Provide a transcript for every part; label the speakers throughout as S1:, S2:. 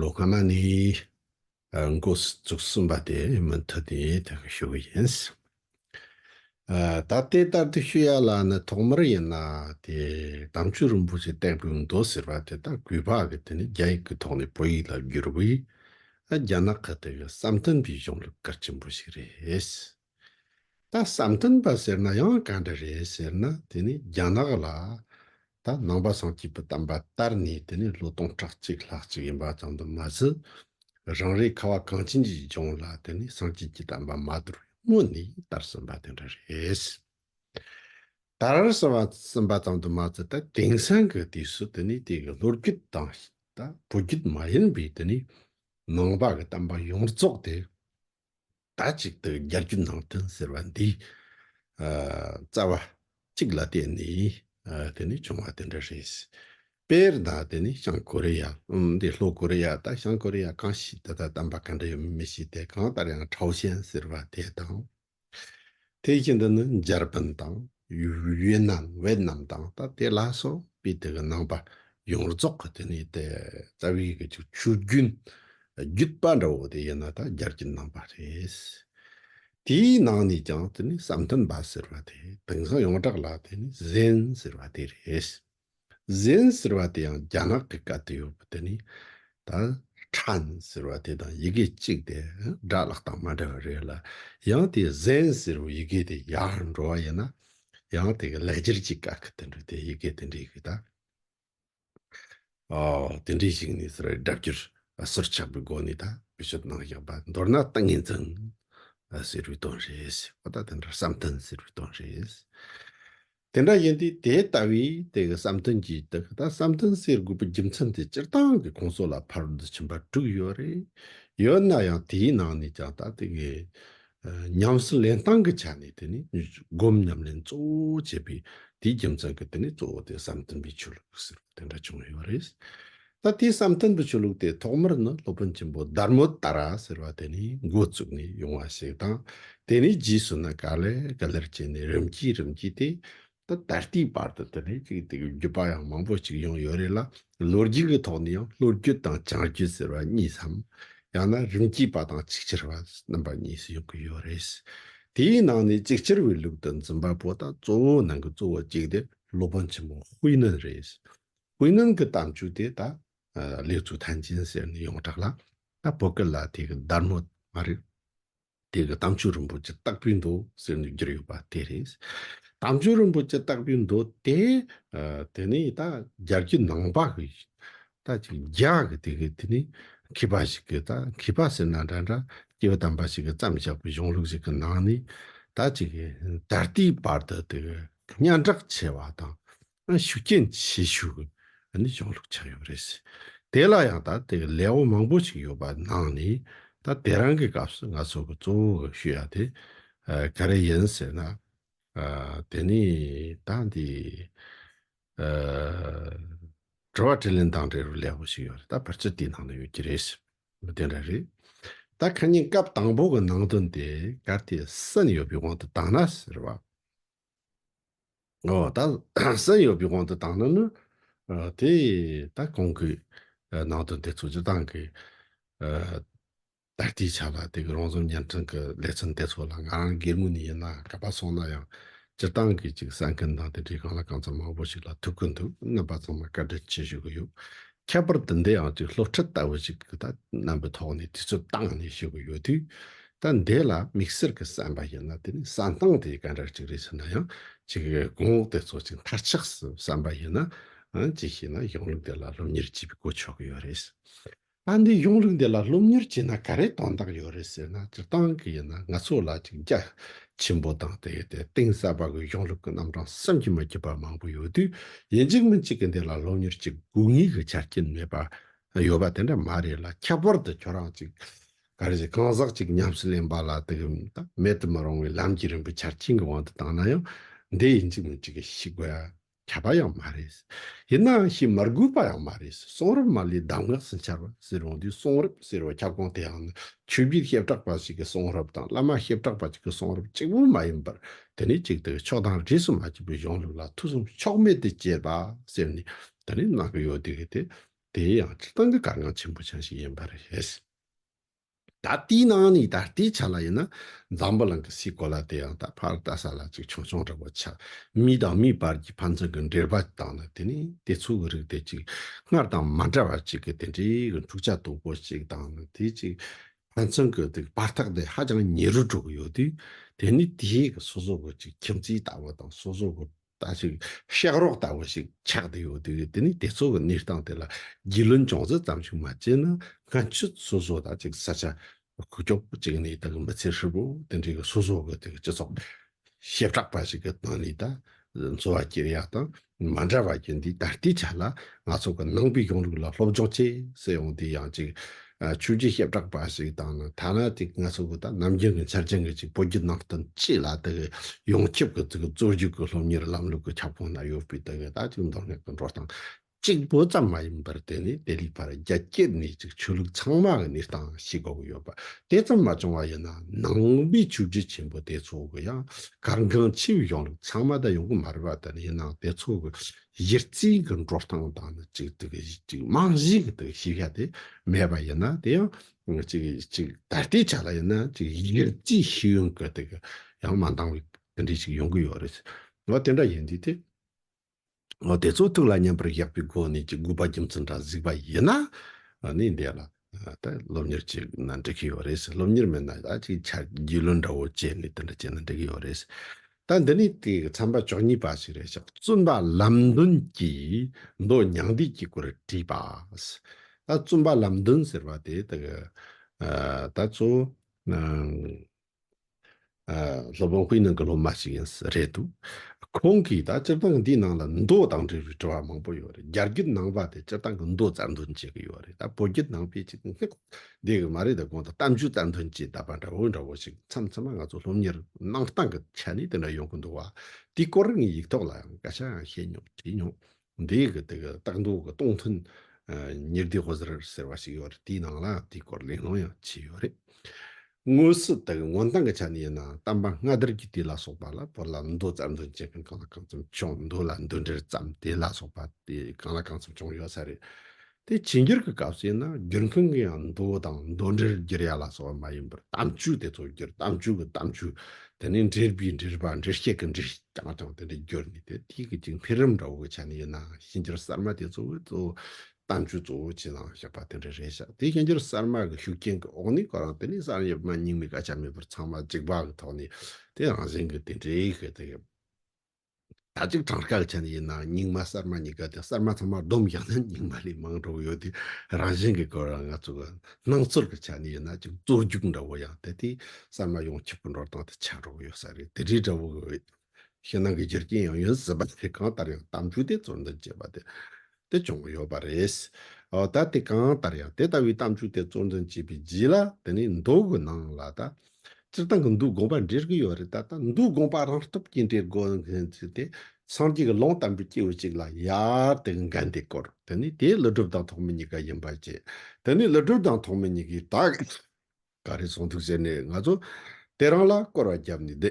S1: ལོ་སྔ་མ་ནས་འགོ་བཙུགས་ཟིན་པ་དེ་མུ་མཐུད་དེ་ཐོན་གྱི་ཞུ་གི་ཡིན། ད་ལྟའི་ལྟར་དུ་ཞུ་ཡ་ལ་ནི་ཐོག་མར་ཡིན་ན་དེ་དམ་ཆོས་རིན་པོ་ཆེ་བསྟན་པའི་མདོ་ཟེར་བ་དེ་དག་གུས་པ་གི་དེ་ནི་རྒྱ་ཡིག་གི་ཐོག་ནས་བོད་ཡིག་ལ་བསྒྱུར་བས་རྒྱ་ནག་གི་དེ་གི་བསམ་དོན་དེ་གཞུང་ལ་གལ་ཆེན་པོ་ཞིག་རེད། ད་བསམ་གཏན་པ་ཟེར་ན་ཡང་ག་འདྲ་རེད་ཟེར་ན་དེ་ནི་རྒྱ་ནག་ལ་ད་ནང་པ་སངས་སྐྱིད་པོ་བལྟམས་པ་ལྟར་ནས་དེ་ནི་ལོ་སྟོང་ཕྲག་གཅིག་ལྷག་གཅིག་ཡིན་པ་ཙམ་དུ་མ་ཟད་རང་རེའི་ཁ་བ་གངས་ཅན་གྱི་ལྗོངས་ལ་དེ་ནི་སངས་སྐྱིད་ཀྱིས་བལྟམས་པ་མ་དུར་བའི་སྔོན་ནས་དར་ཟིན་པ་དེ་འདྲ་རེད། དར་ཟིན་པ་ཙམ་དུ་མ་ཟད་ད་དེང་སང་གི་དུས་སུ་དེ་ནི་དེ་གི་ལོ་རྒྱུས་དང་ད་བོད་རྒྱུད་མ་ཡིན་པའི་དེ་ནི་ནང་པ་གི་བལྟམས་པ་ཡོངས་རྫོགས་དེ་ཟླ་གཅིག་ཏུ་བརྒྱ་རྒྱུ་ནང་དོན་ཟེར་བ་འདི་རྩ་བ་གཅིག་ལ་བརྟེན་ནས་དེ་ནི་བྱུང་བ་དེ་འདྲ་རེད། དཔེར་ན་དེ་ནི་བྱང་ཀོ་རེ་ཡ་འདི་ལྷོ་ཀོ་རེ་ཡ་དང་བྱང་ཀོ་རེ་ཡ་གང་ཞིག་ད་ལྟ་བདམས་པ་ག་འདྲ་ཡོད་མི་ཤེས་ཏེ་གང་ལྟར་ཡང་ཁྲའོ་ཞན་ཟེར་བ་དེ་དང། དེའི་རྐྱེན་དུ་ནི་འཇར་པན་དང་ཝིའེ་ནམ Vietnam དང་ད་ལྟའི་ལྷ་སོགས་པའི་དེ་གི་ནང་པ་ཡོངས་རྫོགས་ཀྱི་དེ་ནི་དེ་རྩ་བའི་ཡི་གེ་གཅིག་ཆུ་རྒྱུན་བརྒྱུད་པ་འདྲ་བོ་དེ་ཡིན་ན་ད་རྒྱར་གྱི་ནང་པ་རེད། དེའི་ནང་ནས་ཀྱང་དེ་ནི་བསམ་གཏན་པ་ཟེར་བ་དེ་དེང་སང་ཡོངས་གྲགས་ལ་དེ་ནི་ཟན་ཟེར་བ་དེ་རེད། གཟན་ཟེར་བ་དེ་ཡང་རྒྱ་ནག་གི་སྐད་དུ་ཡོད་པ་དེ་ནི་ད་ཁྲན་ཟེར་བ་དེ་དང་ཡི་གེ་གཅིག་དེ་སྒྲ་བླག་སྟངས་མ་འདྲ་བ་རེད་ལ་ཡང་དེ་གཟན་ཟེར་བའི་ཡི་གེ་དེ་ཡར་འགྲོ་བ་ཡིན་ན་ཡང་དེ་གི་ལས་སྦྱར་གྱི་སྐད་ཁ་དེ་འདྲ་དེ་ཡི་གེ་དེ་འདྲའི་གི་ད་དེ་འདྲའི་ཞིག་ནས་ཟེར་བའི་སྒྲ་བསྒྱུར་ཟུར་ཆག་པའི་སྒོ་ནས་ད་བེད་སྤྱོད་གནང་བཞག་པ་མདོར་ན་ཏིང་ངེ་འཛིན་ཟེར་བའི་དོན་རེད་ཟེར་བ་ད་དེ་འདྲ་བསམ་གཏན་ཟེར་བའི་དོན་རེད། དེ་འདྲ་ཡིན་དུས་དེ་ལྟ་བུའི་དེ་གི་བསམ་དོན་གྱིས་དེ་གི་ད་བསམ་དོན་གསེར་དགུ་པོ་རྒྱུ་མཚན་དེ་སྤྱིར་བཏང་གི་ཁོང་སོགས་ལ་ཕར་བསྡུ་ཕྱིན་པ་དྲུག་ཡོད་རེད། ཡོད་ན་ཡང་དེའི་ནང་ནས་ཀྱང་ད་དེ་གི་ཉམས་སུ་ལེན་སྟངས་ཀྱི་ཆ་ནས་དེ་ནི་སྒོམ་ཉམས་ལེན་གཙོ་བོ་བྱེད་པའི་དེའི་རྒྱུ་མཚན་གྱིས་དེ་ནི་གཙོ་བོ་དེ་བསམ་དོན་པའི་ཆོས་ལུགས་ཟེར་བ་དེ་འདྲ་བྱུང་ཡོད་རེད། ད་དེའི་བསམ་དོན་དུ་ཆོས་ལུགས་དེ་ཐོག་མར་ནི་སློབ་དཔོན་ཆེན་པོ་དར་མོ་དར་ར་ཟེར་བ་དེ་ནས་འགོ་བཙུགས་ནས་ཡོང་བ་ཞིག་དང་དེ་ནས་རྗེས་སུ་ནི་ག་ལེར་ག་ལེར་བྱས་ནས་རིམ་གྱིས་རིམ་གྱིས་ཏེ། ད་ད་ལྟའི་བར་དུ་དེ་ནས་ཅིག་དེ་གའི་བརྒྱུད་པ་ཡང་མང་པོ་ཅིག་ཡོང་ཡོད་རེད་ལ་ལོ་རྒྱུས་ཀྱི་ཐོག་ནས་ཡང་ལྷོ་རྒྱུད་དང་བྱང་རྒྱུད་ཟེར་བ་གཉིས་སམ། ཡང་ན་རིམ་གྱིས་པ་དང་ཅིག་ཅར་བ་རྣམ་པ་གཉིས་སུ་ཡོང་གི་ཡོད་རེད། དེའི་ནང་ནས་ཅིག་ཅར་བའི་ལུགས་དང་འཛིན་པ་པོ་དང་གཙོ་བོའི་ནང་གི་གཙོ་བོ་གཅིག་དེ་སློབ་དཔོན་ཆེན་པོ་དཔེ་ནི་རེད། བོད་ནང་གི་གཏམ་རྒྱུད་དེ་ད་ལེགས་ཚུལ་ཐན་ཅན་ཟེར་ནས་ཡོངས་གྲགས་ལ་ད་བོད་སྐད་ལ་དེ་གི་སྡར་མོ་མ་རེད། དེ་གི་གཏམ་རྒྱུད་རིན་པོ་ཆེ་སྟག་པུའི་མདོ་ཟེར་ནས་བསྒྱུར་ཡོད་པ་དེ་རེད། གཏམ་རྒྱུད་རིན་པོ་ཆེ་སྟག་པུའི་མདོ་དེ་དེ་ནི་ད་རྒྱ་རྒྱུད་ནང་པ་གི་ད་ཅིག་རྒྱ་གི་དེ་གི་དེ་ནི་མཁས་པ་ཞིག་གི་ད་མཁས་པ་ཟེར་ན་འདྲ་འདྲ་སྐྱེ་བོ་དམ་པ་ཞིག་གི་བརྩམས་བཞག་པའི་གཞུང་ལུགས་ཞིག་གི་ནང་ནས་ད་ཅིག་ད་ལྟའི་བར་དུ་དེ་གི་སྙན་གྲགས་ཆེ་བ་དང་ཤུགས་རྐྱེན་བྱེད་ཤུགས་ནི་ཅུང་ལྷུག་ཆགས་ཡོད་པ་རེད། དེ་ལ་ཡང་ད་ལྟའི་ལས་དབང་མང་པོ་ཞིག་ཡོད་པ་ནང་ནས་ད་དེ་རང་གི་སྐབས་སུ་ང་ཚོ་གི་གཙོ་བོ་གི་ཤུ་ཡ་དེ་ག་རེ་ཡིན་ཟེར་ན། དེ་ནི་ད་འདི་དྲི་བ་དྲིས་ལན་དང་འབྲེལ་བའི་ལས་དབང་ཞིག་ཡོད་རེད་ད་བར་ཆད་དེའི་ནང་ནས་ཡོད་ཀྱི་རེད། དེ་འདྲ་རེད། ད་གང་ཉིད་སྐབས་དང་པོ་གི་ནང་དོན་དེ་ག་དེ་སུ་ནས་ཡོད་པའི་དབང་དུ་བཏང་ན་ཟེར་བ། ཨོ་ད་སེམས་ཡོད་པའི་དབང་དུ་བཏང་ན་ནི་དེ་ད་གང་གིས་ནང་དོན་དེ་ཚོ་སྤྱི་བཏང་གིས་ད་ལྟའི་ཆ་ལ་དེ་གི་རང་བཟོ་བརྙན་འཕྲིན་གི་ལེ་ཚན་དེ་ཚོ་ལ་ང་རང་སྒེར་མོ་ནས་ཡིན་ན་ག་པ་སོང་ན་ཡང་སྤྱི་བཏང་གིས་ཅིག་གསལ་མཁན་དང་དེ་འདྲའི་གང་ལ་གང་འཚམ་མང་པོ་ཞིག་ལ་ཐུག་གི་འདུག་རྣམ་པ་ཚང་མ་བཀའ་དྲིན་ཆེ་ཞུ་གི་ཡོད་ཁྱད་པར་དུ་འདི་ཡང་དེའི་སློབ་ཁྲིད་ལྟ་བུ་ཞིག་གི་ཐ་རྣམ་པའི་ཐོག་ནས་དུས་ཚོད་བཏང་ནས་བཤད་དགོས་ཡོད་དུས། ད་འདི་ལ་དམིགས་བསལ་གྱི་བསམ་པ་ཡོད་ན་དེ་ནི་བསམ་སྟངས་དེའི་སྐད་འགྲགས་ཅིག་རེད་ཟེར་ན་ཡང་ཅིག་གི་གོང་འོག་དེ་ཚོ་ཅིག་མཐར་ཆགས་སུ་བསམ་པ་ཡོད་ན་ཅིག་བྱས་ན་གཞུང་ལུགས་འདི་ལ་སློབ་གཉེར་བྱེད་པའི་གོ་ཆོད་གི་ཡོད་རེད། ད་འདི་གཞུང་ལུགས་འདི་ལ་སློབ་གཉེར་བྱས་ན་ག་རེ་དོན་དག་ཡོད་རེད་ཟེར་ན་སྤྱིར་བཏང་གི་ཡིན་ན་ང་ཚོ་ལ་ཅིག་རྒྱ་ཆེན་པོ་དང་དེའི་དེ་གཏིང་ཟབ་པ་གི་གཞུང་ལུགས་ཀྱི་རྣམ་གྲངས་བསམ་གྱིས་མ་ཁྱབ་པ་མང་པོ་ཡོད་དུས་ཡིན་གཅིག་མིན་གཅིག་གི་འདི་ལ་སློབ་གཉེར་གྱི་དགོས་ངེས་ཀྱི་ཆ་རྐྱེན་མེད་པ་ཡོད་པ་དེ་འདྲ་མ་རེད་ལ་ཁྱད་པར་དུ་ཁྱོད་རང་ཅིག་ག་རེ་ཞིག་གང་ཟག་ཅིག་ཉམས་སུ་ལེན་པ་ལ་དེ་གི་མེད་དུ་མི་རུང་བའི་ལམ་གྱི་རིམ་པའི་ཆ་རྐྱེན་གྱི་དབང་དུ་བཏང་ན་ཡང་འདི་ཡིན་གཅིག་མིན་གཅིག་གི་ཤེས་དགོས། བྱ་བ་ཡང་མ་རེད། ཡིན་ནའང་ཞེས་མར་སྒུག་པ་ཡང་མ་རེད། གསུང་རབ་མ་ལུས་གདམས་ངག་ཟིན་འཆར་བ་ཟེར་འོང་དུས་གསུང་རབ་ཟེར་བའི་ཁྱབ་ཁོངས་དེའང་ནི་ཆོས་བརྒྱུད་ཞབས་གྲགས་པ་ཞིག་གི་གསུང་རབ་དང་བླ་མ་ཞབས་གྲགས་པ་ཅིག་གི་གསུང་རབ་གཅིག་པུ་མ་ཡིན་པར་དེ་ནི་གཅིག་དང་ཕྱོགས་དང་རིས་སུ་མ་ཆད་པའི་གཞུང་ལུགས་ལ་ཐུགས་བསམ་ཕྱོགས་མེད་དུ་བསྐྱེད་པ་ཟེར་ནས་དེ་ནི་གནང་གི་ཡོད་དུས་དེ་དེའི་ཡང་སྤྱིར་བཏང་གི་དཀའ་ངལ་ཆེན་པོ་ཆགས་ཤིག་ཡིན་པ་རེད། ད་ལྟའི་ནང་ནས་ད་ལྟའི་ཆ་ལ་ཡིན་ན་འཛམ་བུ་གླིང་གི་སའི་གོ་ལ་དེ་ཡང་ད་ཕར་ལྟ་ས་ལ་ཅིག་ཆུང་ཆུང་རེད་པོ་ཆགས། མི་དང་མིའི་བར་གྱི་ཕན་ཚུན་གྱི་འབྲེལ་བ་དང་ནི་དེ་ནས་དེ་ཚོ་གི་རིགས་དེ་ཅིག་སྔར་དང་མ་འདྲ་བ་ཅིག་གི་དེ་འདྲའི་གི་འཁྲུག་ཆ་དོད་པོ་ཅིག་དང་ནི་དེ་ཅིག་ཕན་ཚུན་གྱི་དེ་གི་བར་ཐག་དེ་ཧ་ཅང་ཉེ་རུ་འགྲོ་གི་ཡོད་དུས་དེ་ནི་དེའི་གི་སོ་སོ་གི་ཅིག་ཁྱིམ་མཚེས་ལྟ་བུ་དང་སོ་སོ་གི་ལྟ་ཞིག་ཤག་རོགས་ལྟ་བུ་ཞིག་ཆགས་བསྡད་ཡོད་དུས་དེ་ནས་དེ་ཚོ་གི་གནས་སྟངས་དེ་ལ་རྒྱུས་ལོན་ཅུང་ཟད་ཙམ་ཞིག་མ་བྱས་ན་སྔ་ཕྱི་སོ་སོ་དང་གཅིག་ས་ཆ་ཁུག་ཀྱོག་པོ་གཅིག་ནས་དང་མི་ཚེ་ཧྲིལ་པོ་དེ་འདྲའི་གི་སོ་སོ་གི་དེ་གི་སྤྱི་ཚོགས་ཞེ་དྲག་པ་ཞིག་གི་སྟེང་ནས་ད་འཚོ་བ་སྐྱེལ་ཡག་དང་མ་འདྲ་བ་ཡིན་དུས་ད་ལྟའི་ཆ་ལ་ང་ཚོ་གི་ནང་པའི་གཞུང་ལུགས་ལ་སློབ་སྦྱོང་བྱེད་ཟེར་ཡོང་དུས་ཡང་གཅིག་ཆོས་རྗེ་ཞབས་གྲགས་པ་ཞིག་དང་ནི་ཐ་ན་དེ་སྔ་སོང་གི་ད་ནམ་རྒྱུན་གྱི་འཆར་ཅན་གྱི་ཅིག་བོད་བརྒྱུད་ནང་བསྟན་སྤྱི་ལ་དེ་གི་ཡོངས་ཁྱབ་ཀྱི་དེ་གི་རྩོད་རྒྱུགས་ཀྱི་སློབ་གཉེར་ལམ་ལུགས་ཀྱི་ཁྱབ་ཁོངས་ན་ཡོད་པའི་དེ་གི་ད་ཅིག་མདོ་སྨད་ཀྱི་འགྲོ་སྟངས་གཅིག་པོ་ཙམ་མ་ཡིན་པར་དེ་ནི་དེ་ལས་ཕར་རྒྱ་སྐྱེད་ནས་ཅིག་ཆོས་ལུགས་ཚང་མ་གི་གནས་སྟངས་ཞིག་གོ་གི་ཡོད་པ་དེ་ཙམ་མ་བྱུང་བ་ཡིན་ན་ནང་པའི་ཆོས་རྗེ་ཆེན་པོ་དེ་ཚོ་གི་ཡང་གར་འགངས་ཆེ་བའི་གཞུང་ལུགས་ཚང་མ་ད་ཡོང་གི་མ་རེད་པ་དེ་ནི་ཡིན་ནའང་དེ་ཚོ་གི་གཞི་རྩའི་གི་འགྲོ་སྟངས་དང་ནི་གཅིག་དེ་གི་གཅིག་རྨང་གཞིའི་གི་དེ་ཤེས་བྱ་དེ་མེད་པ་ཡིན་ན་དེ་ཡང་གཅིག་གཅིག་ད་ལྟའི་ཆ་ལ་ཡིན་ན་གཅིག་གཞི་རྩའི་ཤེས་ཡོན་གི་དེ་གི་ཡང་མ་འདང་བའི་དེ་འདྲའི་ཞིག་ཡོང་གི་ཡོད་རེད། ཨོ་དེ་འདྲ་ཡིན་དུས་དེ་ཨོ་དེ་ཚོ་ཐུགས་ལ་མཉམ་པར་བཞག་པའི་སྒོ་ནས་ཀྱི་དགོས་པ་རྒྱུ་མཚན་འདྲ་གཟིགས་པ་ཡིན་ན་ནི་འདས་ལ། ད་སློབ་གཉེར་གཅིག་ན་འགྲིག་གི་ཡོད་རེད། སློབ་གཉེར་མེད་ན་ད་ཅིག་ཆ་རྒྱུས་ལོན་འདྲ་བོ་བྱས་ནས་དེ་འདྲ་བྱས་ན་འགྲིག་གི་ཡོད་རེད། ད་འདི་ནི་དེ་གི་ཚན་པ་ཅོག་གཉིས་པ་ཞིག་རེད་ཅག་བཙུན་པ་ལམ་བདུན་གྱིས་མདོ་མྱང་འདས་ཀྱི་སྐོར་བྲིས་པ། ད་བཙུན་པ་ལམ་བདུན་ཟེར་བ་དེ་དག་གི་ད་གཙོ་བོ། སློབ་དཔོན་ཧུའེ་ནང་གི་སློབ་མ་ཞིག་ཡིན་ས་རེད་འདུག་ཁོང་གིས་ད་སྤྱིར་བཏང་འདིའི་ནང་ལ་མདོ་དང་འབྲེལ་བའི་དྲི་བ་མང་པོ་ཡོད་རེད་རྒྱ་རྒྱུད་ནང་པ་དེ་སྤྱིར་བཏང་གི་མདོ་རྩ་འདོན་བྱེད་ཀྱི་ཡོད་རེད་ད་བོད་རྒྱུད་ནང་པས་ཅིག་སྔགས་བཟླས་གི་མ་རེད་ད་གོང་དུ་གཏམ་རྒྱུད་རྩ་འདོན་བྱས་ད་པ་འདྲ་བོ་འདྲ་བོ་ཞིག་མཚམས་མཚམས་མ་ང་ཚོ་སློབ་གཉེར་གནང་སྟངས་ཀྱི་ཆ་ནས་དེ་འདྲ་ཡོང་གི་འདུག་བ་དེའི་སྐོར་ངས་ཡིག་ཐོག་ལའང་སྐད་ཆའང་བཤད་མྱོང་དྲིས་མྱོང། འདིའི་གི་དེ་གི་སྟག་འདོ་གི་སྟོང་ཐུན་ཉེར་བདུན་ཧོ་ཟེར་ཟེར་བ་ཞིག་ཡོད་རེད་དེའི་ནང་ལ་དེའི་སྐོར་གླེང་སློང་ཡང་བྱས་ཡོད་རེད། དངོས་སུ་དེ་གི་སྔོན་སྟངས་གི་ཆ་ནས་ཡིན་ན་གཏམ་པ་སྔ་དར་གྱི་དུས་ལ་སོགས་པ་ལ་བོད་ལ་འདོ་རྩ་འདོན་བྱེད་མཁན་གང་ལ་གང་ཙམ་བྱུང་འདོ་ལ་འདོན་འདྲེར་བརྩམས་དེ་ལ་སོགས་པ་དེ་གང་ལ་གང་ཙམ་བྱུང་ཡོད་ས་རེད། དེ་ཇི་འགྱུར་གྱི་སྐབས་སུ་ཡིན་ན་བསྒྱུར་མཁན་གྱི་ཡང་མདོ་དང་མདོ་འགྲེལ་བསྒྱུར་ཡ་ལ་སོགས་མ་ཡིན་པར་གཏམ་རྒྱུད་དེ་ཚོ་བསྒྱུར་གཏམ་རྒྱུད་ཀྱི་གཏམ་རྒྱུད་དེ་ནི་འགྲེལ་པའི་འགྲེལ་པ་འགྲེལ་བཤད་ཀྱི་འགྲེལ་བསྐྱངས་ཀྱང་དེ་འདྲ་བསྒྱུར་ནས་དེ་ཐིག་གི་ཅིག་འཕེལ་རིམ་འདྲ་བོ་གི་ཆ་ནས་ཡིན་ན་གཤིན་རྒྱུད་གསར་མ་དེ་ཚོ་གི་གཙོ་བོ་གཏམ་རྒྱུད་གཙོ་བོ་ཅི་ལའང་བཞག་པ་དེ་འདྲ་རེད་ཤག་དེ་གཤིན་རྒྱུད་གསར་མ་གི་ཤུགས་རྐྱེན་གྱི་འོག་ནས་གོ་རང་དེ་ནས་གསར་ཡིན་མ་ཡིན་མི་ག་ཆ་མེད་པར་ཚང་མ་འཇིགས་པ་གི་ཐོག་ནས་དེ་རང་བཞིན་གྱི་དེ་འདྲའི་གི་དེ་ད་ཅིག་གྲངས་ཀ་གི་ཆ་ནས་ཡིན་ནའང་རྙིང་མ་གསར་མ་གཉིས་ཀ་དེ་གསར་མ་ཚང་མ་བསྡོམས་བཞག་ན་རྙིང་མ་ལས་མང་གྲུབ་ཡོད་དེ་རང་བཞིན་གྱི་སྐོར་ལ་ང་ཚོ་གི་སྣང་ཚུལ་གྱི་ཆ་ནས་ཡིན་ན་ཅིག་རྩོད་རྒྱུགས་འདྲ་བོ་ཡང་དེ་ལྟའི་གསར་མ་ཡོང་ཆེད་པོ་འགྲོ་སྟངས་དེ་ཆགས་འགྲོ་གི་ཡོད་ས་རེད་དེ་འདྲའི་འདྲ་བོ་གི་ཕྱི་ནང་གི་རྒྱུ་རྐྱེན་ཡང་ཡིན་སྲིད་པ་དེ་གང་ལྟར་ཡང་གཏམ་རྒྱུད་དེ་རྩོད་འདོད་བྱེད་པ་དེ་དེ་བྱུང་གི་ཡོད་པ་རེད། ད་དེ་གང་ལྟར་ཡང་དེ་ལྟ་བུའི་གཏམ་རྒྱུད་དེ་གཙོར་འཛིན་བྱས་པའི་རྗེས་ལ་དེ་ནས་མདོ་དགོན་ནང་ལ་ད་སྤྱིར་བཏང་གི་འདུལ་དགོངས་པ་འགྲེལ་གྱི་ཡོད་རེད་ད་ལྟ་འདུལ་དགོངས་པ་རང་སྟོབས་ཀྱིས་འགྲེལ་དགོས་ངེས་ཚུལ་དེ་སངས་རྒྱས་ཀྱི་ལུང་དམ་པའི་སྐྱེས་བུ་ཅིག་ལ་ཡར་དེ་གི་འགན་དེ་བསྐོར་དེ་ནས་དེའི་ཀླུ་སྒྲུབ་དང་ཐོགས་མེད་གཉིས་ཀ་ཡིན་པ་བཅས་དེ་ནས་ཀླུ་སྒྲུབ་དང་ཐོགས་མེད་གཉིས་ཀས་ད་ག་རེ་གསུང་ཐུབ་ཟེར་ནས་ང་ཚོ་དེ་རང་ལ་སྐོར་བ་བརྒྱབ་ནས་བསྡད། དེ་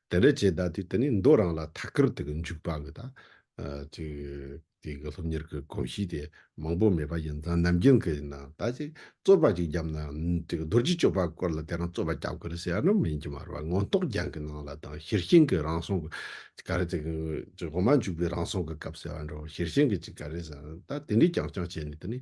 S1: འདྲ་བྱས་ད་དུས་དེ་ནས་མདོ་རང་ལ་ཐ་ཀར་དུ་གི་འཇུག་པ་གི་ད་དུས་དེ་གི་སློབ་གཉེར་གི་གོམས་གཤིས་དེ་མང་པོ་མེད་པ་ཡིན་ཙང་ནམ་རྒྱུན་གི་ཡིན་ན་ད་ཅིག་རྩོད་པ་ཅིག་བརྒྱབ་ན་དེ་གི་རྡོ་རྗེ་གཅོད་པ་སྐོར་ལ་དེ་རང་རྩོད་པ་བརྒྱབ་གི་རེད་ཟེར་ཡ་ན་མི་ཡིན་གྱི་མ་རེད་བ་མངོན་རྟོགས་རྒྱན་གི་ནང་ལ་དང་ཤེར་ཕྱིན་གི་རང་སྲོང་གི་ག་རེ་དེ་གི་འོ་མ་འཇུག་པའི་རང་སྲོང་གི་སྐབས་ཟེར་བ་འདྲ་བ་ཤེར་ཕྱིན་གི་ཅིག་ག་རེ་ཟེར་ན་ད་དེ་འདྲའི་རྐྱང་རྐྱང་བྱས་ནས་དེ་ནས་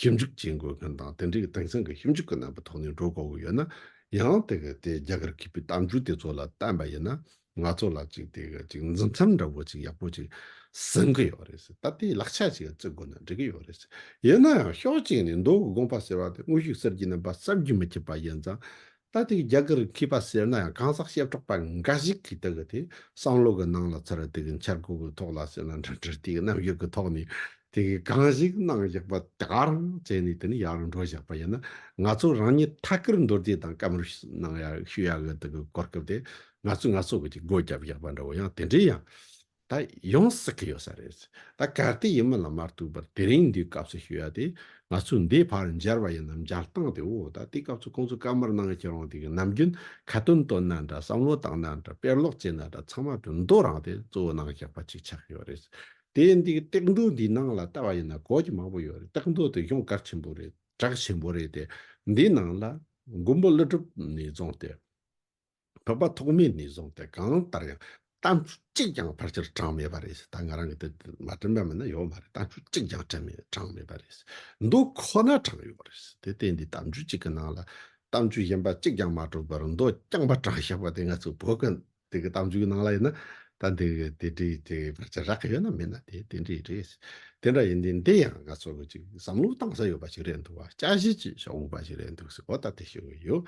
S1: ཞིབ་འཇུག་བྱེད་དགོས་མཁན་དང་དེ་འབྲེལ་གྱི་དེང་སང་གི་ཞིབ་འཇུག་གི་རྣམ་པ་ཐོག་ནས་འགྲོ་དགོས་ཀྱི་ཡོད་ན་ཡང་དེ་ག་དེ་རྒྱ་གར་གྱི་པའི་གཏམ་རྒྱུད་དེ་ཚོ་ལ་བལྟམས་པ་ཡིན་ན་ང་ཚོ་ལ་ཅིག་དེ་ག་ཅིག་འཛིན་མཚམས་འདྲ་བོ་ཅིག་ཡག་པོ་ཅིག་ཟིན་གྱི་ཡོད་རེད་ད་ལྟའི་ལག་ཆ་ཅིག་བརྩི་དགོས་ན་འགྲིག་གི་ཡོད་རེད་ཡིན་ན་ཡང་ཕྱོགས་གཅིག་ནས་མདོ་དགོངས་པ་ཟེར་བ་དེ་དངོས་ཤུགས་གསར་གྱི་རྣམ་པ་བསམ་རྒྱུ་མི་ཁྱབ་པ་ཡིན་ཙང་ད་ལྟའི་རྒྱ་གར་མཁས་པ་ཟེར་ན་ཡང་གང་ཟག་བཤད་གྲོགས་པ་འགའ་ཞིག་གིས་དེ་གི་དེ་བསམ་བློ་གི་ནང་ལ་ཚར་དེ་གི་འཆར་སྒོ་གི་ཐོག་ལ་ཟེར་ན་འདྲ་འདྲ་དེ་གི་རྣམ་དབྱེ་གི་ཐོག་ནས་དེ་གི་གང་ཞིག་གནང་བཞག་པ་དེ་ག་རང་བཙལ་ནས་དེ་ནི་ཡག་རུ་འགྲོ་བཞག་པ་ཡིན་ན་ང་ཚོ་རང་ཉིད་ཐད་ཀར་མདོར་བསྡུས་དང་སྐམ་རུ་གནང་ཡག་ཞུ་ཡག་གི་དེ་གི་གོ་སྐབས་དེ་ང་ཚོས་ང་ཚོ་གི་ཅིག་སྒོ་བརྒྱབ་བཞག་པ་འདྲ་བོ་ཡང་དེ་འདྲའི་ཡང་ད་ཡོང་བསགས་ཀྱི་ཡོད་ས་རེད། ད་གལ་ཏེ་ཡིན་མིན་ལ་མ་ལྟོས་པར་དེ་རིང་འདིའི་སྐབས་སུ་ཞུ་ཡ་དེ་ང་ཚོས་འདིའི་བར་མཇལ་བ་ཡིན་ནམ་མཇལ་སྟངས་དེ་འོ་ད་དེའི་སྐབས་སུ་ཁོང་ཚོས་བཀའ་མར་གནང་གི་རང་དེ་གི་ནམ་རྒྱུན་ཁ་དོན་བཏོན་ན་འདྲ་བསམ་བློ་བཏང་ན་འདྲ་དཔེར་ཀློག་བྱས་ན་འདྲ་ཚང་མ་གྲུབ་མདོ་རང་དེ་གཙོ་བོ་གནང་བཞག་པ་ཅིག་ཆགས་ཀྱི་ཡོད་རེད། དེ་འདི་གི་སྟེགས་མདོ་འདིའི་ནང་ལ་བལྟ་བ་ཡིན་ན་གོ་གི་མང་པོ་ཡོད་རེད་སྟེགས་མདོ་དེ་གཞུང་གར་ཆེན་པོ་རེད་གྲགས་ཆེན་པོ་རེད་དེ་འདིའི་ནང་ལ་མགོན་པོ་ཀླུ་སྒྲུབ་ནས་བརྫངས་ཏེ། བོད་པ་ཐོག་མའི་ནས་བཟུང་སྟེ་གང་ལྟར་ཡང་གཏམ་རྒྱུད་གཅིག་ཀྱང་ཕར་ཆེར་དྲངས་མེད་པ་རེད། ད་ང་རང་གི་དེ་མ་དྲན་པ་མིན་ན་ཡོད་མ་རེད་གཏམ་རྒྱུད་གཅིག་ཀྱང་དྲངས་མེད་པ་རེད། མདོ་ཁོ་ན་དྲངས་ཡོད་པ་རེད། དེ་སྟེ་འདི་གཏམ་རྒྱུད་གཅིག་གི་ནང་ལ་གཏམ་རྒྱུད་གཞན་པ་གཅིག་ཀྱང་མ་གྲུབ་པར་མདོ་རྐྱང་པ་དྲངས་ཤག་པ་དེ་ང་ཚོའི་བོད་ཀྱི་དེ་གི་གཏམ་རྒྱུད་གི་ནང་ལ་ཡིན་ན་ད་འདི་གི་དེ་འདྲའི་དེ་ཕར་ཆེར་རག་གི་ཡོད་ན་མིན་ན་དེ་དེ་འདྲའི་རེད། དེ་འདྲ་ཡིན་དུས་འདི་ཡང་ང་ཚོ་གཅིག་བསམ་བློ་གཏང་ས་ཡོད་པ་ཞིག་རེད་འདུག་བ་དཔྱད་གཞི་གཅིག་ཞག་འུག་པ་ཞིག་རེད་འདུག་སེ་འོ་ད་དེ་ཞུ་གི་ཡོད།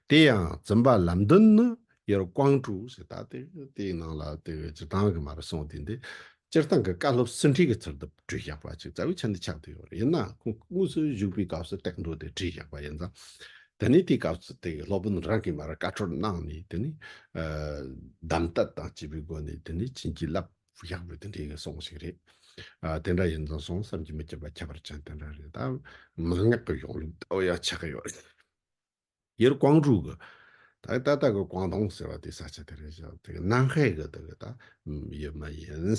S1: དེ་ཡང་བཙུན་པ་ལམ་བདུན་ནི་ཡོར་དབང་དྲུག་ཞེས་བཏགས་ཏེ་དེའི་ནང་ལ་དེ་བས་སྤྱིར་བཏང་གི་མ་རུ་སོང་དེ་འདི་སྤྱིར་བཏང་གི་བཀའ་སློབ་ཟིན་བྲིས་ཀྱི་ཚུལ་དུ་བྲིས་བཞག་པ་ཅིག་རྩ་བའི་ཆ་འདི་ཆགས་ཏེ་ཡོད་ཡིན་ན་ཁོང་དངོས་སུ་བཞུགས་པའི་སྐབས་སུ་ཏེག་འགྲོ་དེ་བྲིས་བཞག་པ་ཡིན་ཙང་དེ་ནས་དེའི་སྐབས་སུ་དེ་སློབ་དཔོན་རང་གིས་མ་རུ་བཀའ་འཁྲོལ་གནང་ནས་དེ་ནས་གདམས་གཏད་དང་བཅས་པའི་སྒོ་ནས་དེ་ནས་བྱིན་གྱིས་བརླབས་བཞག་པའི་དེ་འདྲའི་ཡིན་སོང་ཞིག་རེད། དེ་འདྲ་ཡིན་ཙང་སོང་བསམ་གྱིས་མི་ཁྱབ་པ་ཁྱད་པར་ཅན་དེ་འདྲ་རེད་ད་མངགས་གི་ཡོང་ལུགས་ད་བོ་ཡང་ཆགས་ཡོད། དབྱེར་ཀོང་ཀྲུག་གི། དག་ད་ད་གི་ཀོང་ཏུང་ཟེར་བ་དེ་ས་ཆ་དེ་རེད་ཤག་དེ་གི་ནང་ཧའེ་གི་དེ་གི་ད་ཡོད་མ་ཡིན།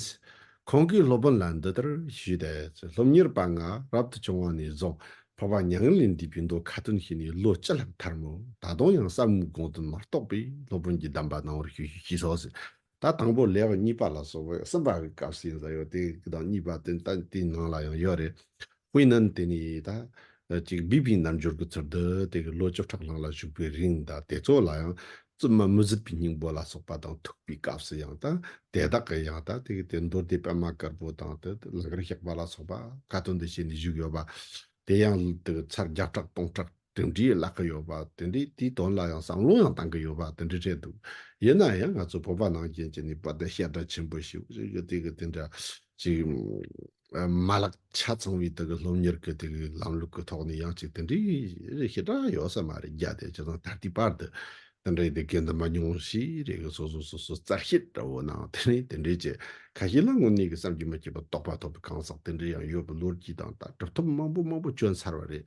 S1: ཁོང་གིས་སློབ་དཔོན་ལ་འདི་ལྟར་ཞུས་ཏེ། སློབ་གཉེར་དཔའ་ང་རབ་ཏུ་བྱུང་བ་ནས་བཟུང་འཕགས་པ་མྱ་ངན་ལས་འདས་པའི་མདོ་ཁ་ཏོན་ཤེས་ནས་ལོ་བཅུ་ལྷག་ཐར་མོད་ད་དུང་ཡང་གསར་བུའི་དགོངས་དོན་མ་རྟོགས་པས་སློབ་དཔོན་གྱི་གདམས་པ་གནང་བར་ཞུ་ཞེས་སོགས་ད་དང་པོ་ལེའོ་གཉིས་པ་ལ་སོགས་པའི་གསུམ་པ་གི་སྐབས་སུ་ཡིན་ས་ཡོད་དེ་གི་དང་གཉིས་པ་དེ་ད་དེའི་ནང་ལ་ཡང་ཡོད་རེད། ཧུའེ་ནན་དེ་ནི་ད་ཅིག་བི་བིའི་རྣམ་འབྱོར་གྱི་ཚུལ་དུ་དེ་གི་ལོ་བཅུ་ཕྲག་ལྷག་ལ་བཞུགས་པའི་རིང་ད་དེ་ཚོ་ལ་ཡང་བཙུན་མ་མུ་ཟི་པི་སྙིང་པོ་ལ་སོགས་པ་དང་ཐུག་པའི་སྐབས་སུ་ཡང་ད་དེ་དག་གི་ཡང་ད་དེ་གི་དེ་མདོ་སྡེ་པདྨ་དཀར་པོ་དང་དེ་ལ་དེ་འདྲའི་བརླག་གི་ཡོད་པ་དེ་འདྲས་དེའི་དོན་ལ་ཡང་བསམ་བློ་ཡང་བཏང་གི་ཡོད་པ་དེ་འདྲས་རེད་འདུག་ཡིན་ན་ཡང་ང་ཚོ་བོད་པ་ནང་བཞིན་གྱི་ནི་བོད་དོན་བཤད་གྲྭ་ཆེན་པོ་ཞིག་རེད་གི་དེ་གི་དེ་འདྲ་ཅིག་མ་ལག་ཆ་ཚང་བའི་དེ་གི་སློབ་གཉེར་གི་དེ་གི་ལམ་ལུགས་གི་ཐོག་ནས་ཡང་ཅིག་དེ་འདྲའི་བཤད་གྲྭ་ཡོད་ས་མ་རེད་རྒྱ་དེ་ཇི་ཙམ་ད་ལྟའི་བར་དུ་དེ་འདྲའི་དེ་གའི་འདུན་པ་ཉུང་ཤས་རེ་གི་སོ་སོ་སོ་སོ་རྩ་ཤེས་འདྲ་བོ་ནའང་དེ་ནི་དེ་འདྲའི་ཆེད་ཁ་ཤས་ལ་དངོས་གནས་ཀྱི་བསམ་གྱིས་མ་སྐྱེས་པ་རྟོགས་པ་ཐོབ་པའི་གང་ཟག་དེ་འདྲ་ཡང་ཡོད་པའི་ལོ་རྒྱུས་དང་ལྟ་གྲུབ་ཐོབ་མང་པོ་མང་པོ་བྱོན་ཚར་བ་རེད་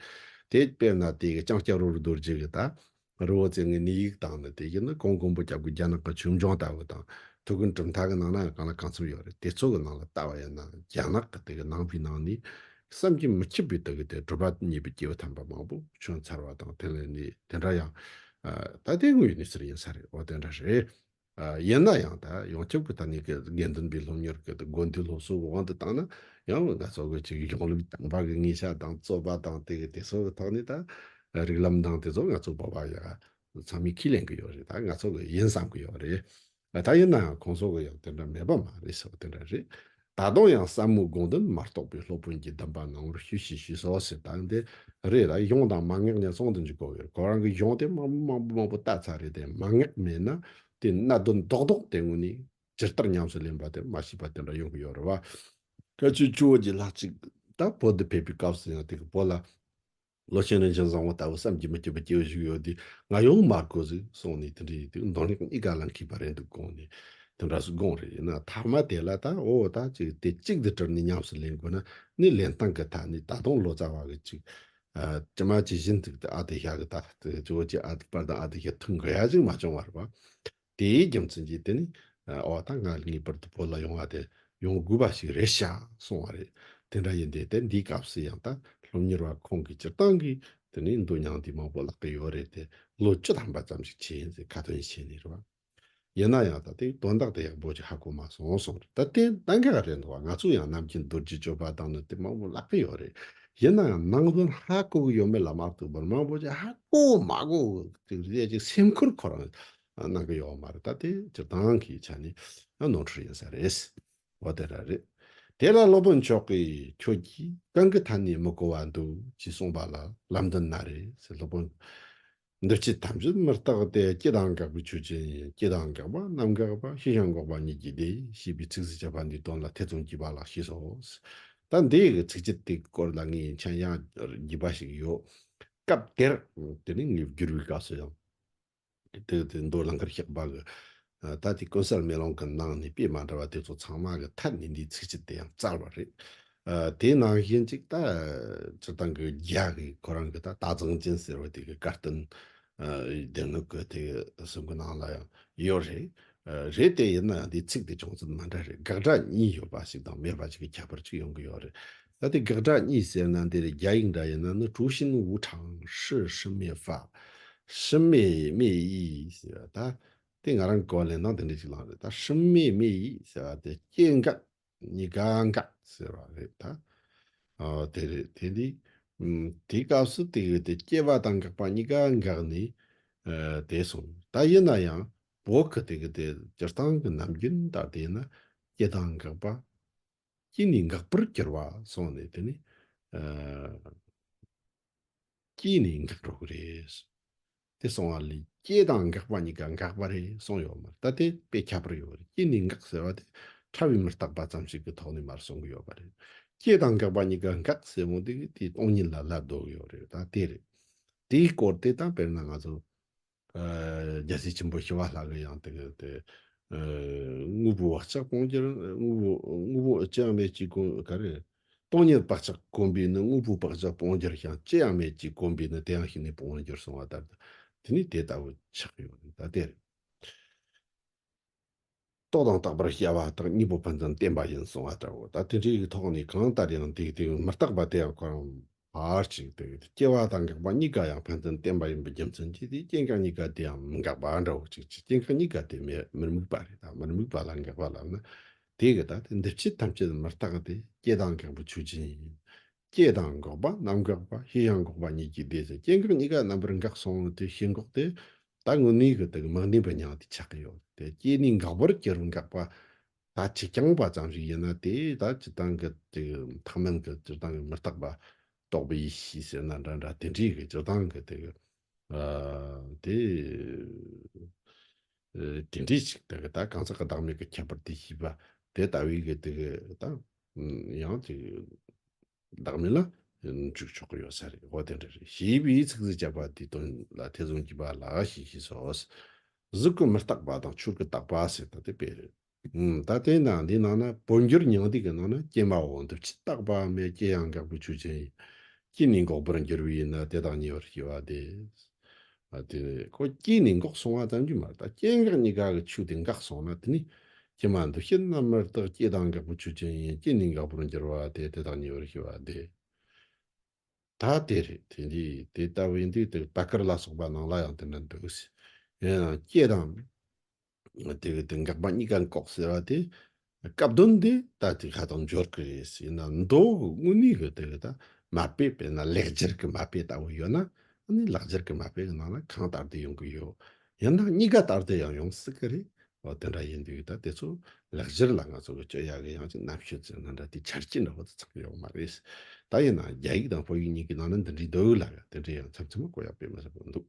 S1: དེ། དཔེར་ན་དེ་གའི་ལྕང་སྐྱ་རོ་རུ་རྡོ་རྗེ་གི་ད་རི་བོ་ཙེ་ངི་ནི་ཡིག་དང་ནི་དེ་གའི་ནི་གོང་མགོན་པོ་སྐྱབས་ཀྱི་རྒྱ་ནག་གི་ཆོས་འབྱུང་ལྟ་བུ་དང་དུ་གི་གྲུབ་མཐའ་གི་ནང་ན་གང་ལ་གང་འཚམས་ཡོད་རེད་དེ་ཚོ་གི་ནང་ལ་ལྟ་བ་ཡིན་ན་རྒྱ་ནག་གི་དེ་གའི་ནང་པའི་ནང་ནས་བསམ་གྱིས་མི་ཁྱབ་པའི་དུ་གི་དེ་གྲུབ་པ་ཉེས་པའི་སྐྱེས་བུ་དམ་པ་མང་པོ་བྱོན་ཚར་བ་དང་དེ་ལས་ནི་དེ་འདྲ་ཡང་ད་ལྟའི་དངོས་ཡོད་གནས་ཚུལ་ཡིན་ས་རེད་བ་དེ་འདྲ་རེད། ཡིན་ན་ཡང་ད་ཡང་སྐྱབས་ཀྱི་ད་ནི་གི་དགེ་འདུན་པའི་སློབ་གཉེར་གི་དགོན་སྡེའི་སློབ་གསོ་གི་དབང་དུ་བཏང་ན་ཡང་ང་ཚོ་གི་ཅིག་གཞུང་ལུགས་དམ་པ་གི་ངེས་ཤ་དང་རྩོད་པ་དང་དེ་གི་དེ་ཚོ་གི་ཐོག་ནས་ད་རིགས་ལམ་དང་དེ་ཚོ་ང་ཚོ་བོད་པ་ཡ་ཚང་མས་ཁས་ལེན་གི་ཡོད་རེད་ད་ང་ཚོ་གི་ཡིན་བསམ་གི་ཡོད་རེད། ད་ཡིན་ནའང་གོང་སོག་གི་ཡང་དེ་འདྲ་མེད་པ་མ་རེད་ཟེར་བ་དེ་འདྲ་རེད། ད་དུང་ཡང་བསམ་བློའི་དགོངས་དོན་མ་རྟོགས་པའི་སློབ་དཔོན་གྱིས་གདམས་པ་ནང་བར་ཞུས་ཞེས་ཞུས་སོ་ཟེར་ད་ཡང་དེ་རེད་ད་གཞུང་དང་མ་ངེག་ཉེ་ཚོང་དུ་འཇུག་གོ་ཡོད་ཁོ་རང་གི་གཞུང་དེ་དམངས་དམངས་པོ་མང་པོ་བལྟ་ཚར་རེད་དེ་མ་ངེག་མེད་ན་དེ་གནད་དོན་རྡོག་རྡོག་དེ་ངོས་ནས་ཇི་ལྟར་ཉམས་སུ་ལེན་པ་དེ་མ་ཤེས་པ་དེ་འདྲ་ཡོང་གི་ཡོད་རེད་བ། སྐལ་ཆོས་ཆུ་བོ་རྗེ་ལགས་གཅིག་ད་བོད་དུ་ཕེབས་པའི་སྐབས་སུ་ཡང་དེ་གི་བོད་ལ། བློ་ཆེན་རིན་ཆེན་བཟང་བོ་ལྟ་བུ་བསམ་གྱིས་མི་ཁྱབ་པའི་སྐྱེ་བོ་ཞིག་ཡོད་དུས་ང་ཡོང་མ་དགོས་ཟིག་གསུངས་ནས་དེ་འདྲའི་ཡིན་དུས་མདང་ལེགས་གཉིས་ཀ་ལ་འཁེལ་པ་རེད་འདུག་དགོངས་ནས་དེ་འདྲ་སུ་དགོངས་རེད་ཡིན་ན་ཐ་མ་དེ་ལ་ད་འོ་ད་ཅིག་དེ་གཅིག་དེ་དྲིལ་ནས་ཉམས་སུ་ལེན་དགོས་ན་ནི་ལེན་སྟངས་ཀྱི་ཐ་ནས་ད་དུང་ལོ་ཙཱ་བ་གི་ཅིག་ཅི་མ་ཇི་བཞིན་ཙིག་དེ་ཨ་དེ་ཤ་གི་ད་ཅིག་ཅི་བོ་ཅིག་ཨ་དེ་པར་དང་ཨ་དེ་ཤ་ཐུག་འགུལ་ཡ་ཅིག་མ་བྱུང་བར་བ་དེའི་རྒྱུ་མཚན་གྱིས་དེ་ནི་འོག་ད་ང་ངེས་པར་དུ་བོད་ལ་ཡོང་བ་དེ་ཡོང་དགོས་པ་ཞིག་རེད་བྱ་སོང་བ་རེད། དེ་འདྲ་ཡིན་དེ་དེ་འདིའི་སྐབས་སུ་ཡང་ད་སློབ་གཉེར་བ་ཁོང་གིས་སྤྱིར་བཏང་གི་དེ་ནི་འདུག་མྱངས་དེ་མང་པོ་བརླག་གི་ཡོད་རེད་དེ་ལོ་བཅུ་ཐམ་པ་ཙམ་ཞིག་བྱས་ཚེ་ཁ་དོན་ཆེ་ནི་རེད་བ། ཡིན་ན་ཡང་ད་ལྟའི་དོན་དག་དེ་ཡག་པོ་ཞིག་ཧ་གོ་མ་སོང་སོང་རེད་ད་དེ་ད་འགའ་རེ་འདུག་བ་ང་ཚོ་ཡང་ནམ་རྒྱུན་རྡོ་རྗེ་གཅོད་པ་དང་ནི་དེ་མང་པོ་བརླག་གི་ཡོད་རེད་ཡིན་ནའང་ནང་དོན་ཧ་གོ་གི་ཡོད་མེད་ལ་མ་ལྟོས་པར་མང་པོ་ཅིག་ཧ་གོ་མ་གོ་ཅིག་རེད་ཅེས་སེམས་ཁུར་ཁོ་རང་གནང་གི་ཡོད་མ་རེད་ད་དེ་སྤྱིར་བཏང་གི་ཆ་ནས་ནོར་འཁྲུལ་ཡིན་ས་རེད། འོ་དེ་འདྲ་རེད། དེ་ལ་སློབ་དཔོན་མཆོག་གིས་ཁྱོད་ཀྱིས་གང་གི་མཐའ་ནས་མི་གོ་བ་འདུག་ཅེས་གསུངས་པ་ལ་ལམ་འདི་ན་རེད་ཟེར་སློབ་དཔོན་འདུ་བྱེད་ཐམས་ཅད་མི་རྟག་སྟེ་སྐྱེ་དང་འགག་པའི་ཆོས་ཅན་ཡིན་སྐྱེ་དང་འགག་པ་རྣམ་འགག་པ་ཤེས་བྱ་འགོག་པ་ཉིད་ཀྱིས་ཏེ་ཞེས་པའི་ཚིགས་སུ་བཅད་པ་འདིའི་དོན་ལ་ཐེ་ཚོམ་སྐྱེས་པ་ལགས་ཞེས་སོ། ད་འདིའི་གི་ཚིགས་བཅད་དེའི་སྐོར་ལ་ངའི་མཆན་ཡང་བགྱིས་པ་ཞིག་ཡོད། སྐབས་དེར། དེ་ནི་ངའི་བསྒྱུར་བའི་སྐབས་སུ་ཡང། དེ་མདོ་ལ་མཁར་གཤེགས་པ་གི་ད་ལྟའི་གོང་གསལ་མེ་ལོང་གི་ནང་ནས་དཔེ་མ་འདྲ་བ་དེ་ཚོ་ཚང་མ་གི་མཐར་ནི་འདིའི་ཚིག་སྤྱི་དེ་ཡང་རྩ་བ་རེད། དེའི་ནང་བཞིན་ཅིག་ད་སྤྱིར་བཏང་གི་རྒྱ་གི་གོ་རང་གི་ད་ལྟ་གཙང་ཅན་ཟེར་བ་དེ་གི་བཀའ་བསྟན་སྡེ་སྣོད་གི་དེ་གི་གསུང་གི་ནང་ལ་ཡང་ཡོད་རེད། རེད་དེ་ཡིན་ན་ཡང་དེའི་ཚིག་དེ་ཅུང་ཙམ་མ་འདྲ་རེད་དགག་སྒྲ་གཉིས་ཡོད་པ་ཞིག་དང་མེད་པ་ཞིག་གི་ཁྱད་པར་ཅིག་ཡོང་གི་ཡོད་རེད། ད་ལྟའི་དགག་སྒྲ་གཉིས་ཟེར་ན་འདིར་རྒྱ་ཡིག་འདྲ་ཡིན་ན་ནི་ཀྲུའུ་ཤིན་ཝུའུ་ཁྲང་ཧྲི་ཧྲི་མེ་ཧྥ། ཧྲི་མེ་མེ་དབྱི་ཟེར་བ་ད། དེ་ང་རང་གི་གོ་བ་ལས་ནང་དེ་འདྲ་ཞིག་ལངས་རེད་ད་ཧྲི་མེ་མེ་ཡིས་ཟེར་བ་དེ་སྐྱེ་འགག་གཉིས་ཀ་འགག་ཟེར་བ་རེད་ད། ཨོ་དེ་རེད་དེ་འདི། དེའི་སྐབས་སུ་དེ་གི་དེ་སྐྱེ་བ་དང་འགག་པ་གཉིས་ཀ་འགག་ནས་བསྡད་སོང་ད་ཡིན་ན་ཡང་བོག་གི་དེ་གི་དེ་སྤྱིར་བཏང་གི་ནམ་རྒྱུན་ད་དེ་ཡིན་ན་སྐྱེ་དང་འགག་པ། སྐྱེ་ནས་འགག་པར་གྱུར་བ་སོང་ནས་དེ་ནི། སྐྱེས་ནས་འགག་འགྲོ་གི་རེད། དེ་སོང་བ་ལས་སྐྱེ་དང་འགག་པ་གཉིས་ཀ་འགག་པ་རེད་གསུངས་ཡོད་མ་རེད་ད་དེ་དཔེ་ཁྱད་པར་ཡོད་རེད་སྐྱེ་ནས་འགག་ཟེར་བ་དེ་ཕྲ་བའི་མི་རྟག་པ་ཙམ་ཞིག་གི་ཐོག་ནས་མར་གསུང་གི་ཡོད་པ་རེད། སྐྱེ་དང་འགག་པ་གཉིས་ཀ་འགག་ཟེར་མོ་དེ་དེའི་སྟོང་ཉིད་ལ་ལབ་འདོད་ཡོད་རེད་ད་དེ་རེད། དེའི་སྐོར་དེ་དང་དཔེར་ན་ང་ཚོ་རྒྱལ་སྲས་ཆེན་པོ་ཞི་བ་ལྷ་གི་ཡང་དེ་དགོངས་པའི་བག་ཆགས་སྤོང་རྒྱུར་དངོས་པོ་ཅི་ཡང་མེད་ཅེས་དགོངས་ག་རེ་རེད། སྟོང་ཉིད་བག་ཆགས་གོམས་པས་ནི་དངོས་པོའི་བག་ཆགས་སྤོང་གྱུར་ཀྱང་ཅི་ཡང་མེད་ཅེས་གོམས་པས་ནི་དེ་ཡང་ཞིག་ནས་སྤོང་བར་འགྱུར་གསུང་བ་ལྟར་དུ་དེ་ནི་དེ་ལྟ་བུ་ཆགས་ཡོད་ན་ད་དེར་རྟོག་དང་རྟག་པར་སྐྱེ་བ་དང་གཉིས་པོ་ཕན་ཚུན་བརྟེན་པ་ཡིན་གསུང་བ་ལྟ་བུ་ད་དེ་འདྲའི་ཐོག་ནས་གང་ལྟར་ཡང་དེའི་དེ་མི་རྟག་པ་དེ་ཡང་གོ་རམ། བར་གཅིག་སྟེ། སྐྱེ་བ་དང་འགག་པ་གཉིས་ཀ་ཡང་ཕན་ཚུན་བརྟེན་པ་ཡིན་པའི་རྒྱུ་མཚན་གྱིས་དེའི་སྐྱེ་འགག་གཉིས་ཀ་དེའང་མི་འགག་པ་འདྲ་བོ་གཅིག་གི་སྐྱེ་འགག་གཉིས་ཀ་དེ་མེད་མིར་དམིགས་པ་རེད་ད་མིར་དམིགས་པ་ལ་འགག་པ་ལབ་ན་དེས་གི་ད་དེ་འདི་ཕྱི་ཐམས་ཅད་མི་རྟག་སྟེ་སྐྱེ་དང་འགག་པའི་ཆོས་ཅན་ཡིན། སྐྱེ་དང་འགག་པ་རྣམ་འགག་པ་ཤེས་ཡང་འགོག་པ་ཉིད་ཀྱི་ཟླས་ཀྱི་སྐྱེ་འགག་གཉིས་ཀ་རྣམ་པར་འགགས་སོང་ངོ་དེ་ཤེས་འགོག་དེ་ད་དངོས་གནས་གི་དེ་གི་མིང་བདེན་པའི་མྱང་འདས་ཆགས་ཀྱི་ཡོད་དེ་སྐྱེས་ནས་འགག་པར་སྐྱེ་རུ་འགག་པ་ད་ཅི་རྐྱང་པ་ཙམ་ཞིག་ཡིན་ན་དེས་ད་སྤྱི་སྟངས་ཀྱི་དེ་གི་མཐའ་མན་གྱི་སྤྱིར་བཏང་གི་མི་རྟག་པ་རྟོགས་པའི་ཡེ་ཤེས་ཟེར་ན་འདྲ་འདྲ་དེ་འདྲའི་གི་སྤྱིར་བཏང་གི་དེ་གི་དེ་དེ་འདྲའི་ཞིག་དེ་གི་ད་གང་ཟག་གི་བདག་མེད་གི་ཁྱད་པར་དེ་ཤེས་པ་དེ་ལྟ་བུའི་གི་དེ་གི་ད་ཡང་དེ་བདག་མེད་ལ་འཇུག་ཆོག་གི་ཡོད་ས་རེད་ཨོ་དེ་འདྲ་རེད་ཞེས་པའི་ཚིག་གཟིགས་བརྒྱབ་པ་དེའི་དོན་ལ་ཐེ་ཚོམ་གྱི་བ་ལ་ཞིག་ཤི་སོ། གཟུགས་ཀྱི་མི་རྟག་པ་དང་ཆོས་ཀྱི་རྟག་པ་ཟེར་ད་དེ་དཔེ་རེད། ད་བསྟན་དང་འདིའི་ནང་ན་བོད་འགྱུར་ཉང་ཏིག་གི་ནང་ན་སྐྱེ་མ་འོ་འདི་ཕྱི་རྟག་པ་མེད་སྐྱེ་ཡང་འགག་པའི་ཆོས་ཅན་ཡིན། སྐྱེ་ནས་འགོག་པར་འགྱུར་བས་ན་དེ་དང་ཉེ་བར་སྐྱེ་བ་དེ། དེ་ནི་ཁོ་སྐྱེས་ནས་འགོག་སོང་བ་ཙམ་གྱིས་མ་རེད་ད་སྐྱེ་འགག་གཉིས་ཀ་གི་ཆོས་དེ་འགག་སོང་ན་དེ་ནི་ཀྱེ་མ་འདུ་ཤེས་རྣམ་པར་དག་སྐྱེ་དང་འགག་པའི་ཆོས་ཅན་ཡིན་སྐྱེ་ནས་འགག་པར་འགྱུར་བ་དེ་དེ་དག་ཉེ་བར་ཤེས་པ་དེ་ད་དེ་རེད་དེ་འདི་དེ་ལྟ་བུའི་འདི་དེ་བ་ཀར་ལ་སོགས་པ་ནང་ལ་ཡང་དེ་འདྲ་འདུག་ཡིན་ཡང་སྐྱེ་དང། དེ་དེ་འགག་པ་གཉིས་ཀ་འགོག་ཟེར་བ་དེ་སྐབས་བསྟུན་དེ་ད་དེ་ཁ་དོག་འབྱོར་གི་རེད་ཟེར་ན་མདོ་དབུ་མའི་གི་དེ་ད་མ་དཔེ་པས་ན་ལེགས་སྦྱར་གི་མ་དཔེ་ལྟ་བུ་ཡོད་ན་ཨ་ནི་ལག་སྦྱར་གི་མ་དཔེ་གི་ནང་ན་གང་ལྟར་དེ་ཡོང་གི་ཡོད་ཡིན་ན་གཉིས་ཀ་ལྟར་དེ་ཡང་ཡོང་སྲིད་གི་རེད་ཨོ་དེ་འདྲ་ཡིན་དུས་ད་དེ་ཚོ་ལག་སྦྱར་ལ་ང་ཚོ་གི་སྤྱོད་ཡ་གི་ཡང་ཅིག་རྣམ་ཤེས་ཅན་ན་འདྲ་དེ་འཆར་སྐྱེ་འདྲ་བོ་དེ་ཚང་ཡོད་མ་རེད་ད་ཡིན་ན་རྒྱ་ཡིག་དང་བོད་ཡིག་གཉིས་ཀི་ནང་ན་འདི་འདྲའི་འདུག་ལ་དེ་འདྲའི་ཡང་ཚམ་ཚོམ་གོ་ཡག་པོས་མི་ཟེར་བོ་འདུག།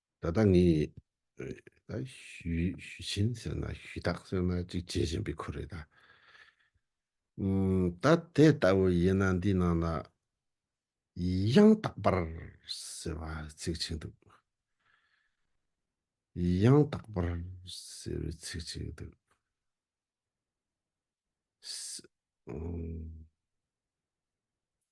S1: ད་ལྟ་ངས་ཞུས་ཆེན་ཟེར་ན་ཞུས་དག་ཟེར་ན་ཅིག་བྱེད་བཞིན་པའི་ཁུལ་རེད། ད་དེ་ལྟ་བུ་ཡིན་ན་འདིའི་ནང་ལ་ཡང་དག་པར་ཟེར་བ་ཚིག་གཅིག་འདུག། ཡང་དག་པར་ཟེར་བའི་ཚིག་གཅིག་འདུག།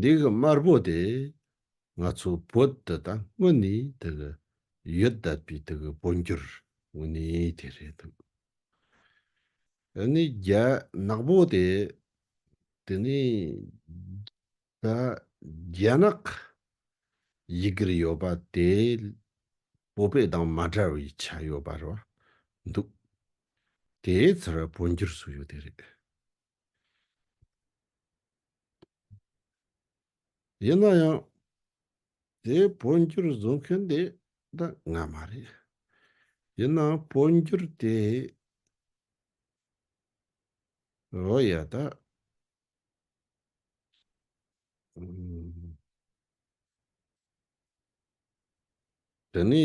S1: འདི་གི་དམར་པོ་དེ་ང་ཚོ་བོད་དུ་ད་སྔོན་ནས་དེ་གི་ཡོད་བསྡད་པའི་དེ་གི་འཕོ་འགྱུར་དངོས་གནས་དེ་རེད་འདུག་དེ་ནས་རྒྱ་ནག་པོ་དེ་དེ་ནས་ད་རྒྱ་ནག་ཡི་གིར་ཡོད་པ་དེ་བོད་པའི་དང་མ་འདྲ་བའི་ཆ་ཡོད་པ་རེད་བ་འདུག་དེའི་ཚུར་འཕོ་འགྱུར་བཟོ་ཡོད་དེ་རེད། ཡིན་ན་ཡང་དེའི་འཕོ་འགྱུར་བཟོ་མཁན་དེ་འདི་ང་མ་རེད། ཡིན་ནའང་འཕོ་འགྱུར་དེ་རོ་ཡ་ད་དེ་ནི་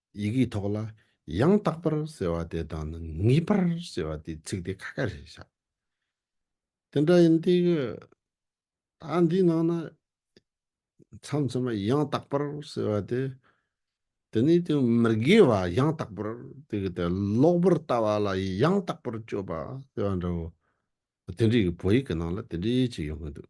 S1: ཡི་གེའི་ཐོག་ལ་ཡང་དག་པར་ཟེར་བ་དེ་དང་ནི་ངེས་པར་ཟེར་བ་དེའི་ཚིག་དེ་ཁ་ཁ་ཞེས་བྱ། དེ་འདྲ་ཡིན་ཏེ། ད་འདིའི་ནང་ན་མཚམས་མཚམས་མ་ཡང་དག་པར་ཟེར་བ་དེ། དེ་ནི་དེ་མི་དགེ་བ་ཡང་དག་པར་དེ་གི་དེ་ལོག་པར་ལྟ་བ་ལ་ཡང་དག་པར་སྤྱོད་པ་ཟེར་བ་འདྲ་བོ། དེ་འདྲའི་གི་བོད་ཡིག་གི་ནང་ལ་དེ་འདྲའི་ཅིག་ཡོང་གི་འདུག།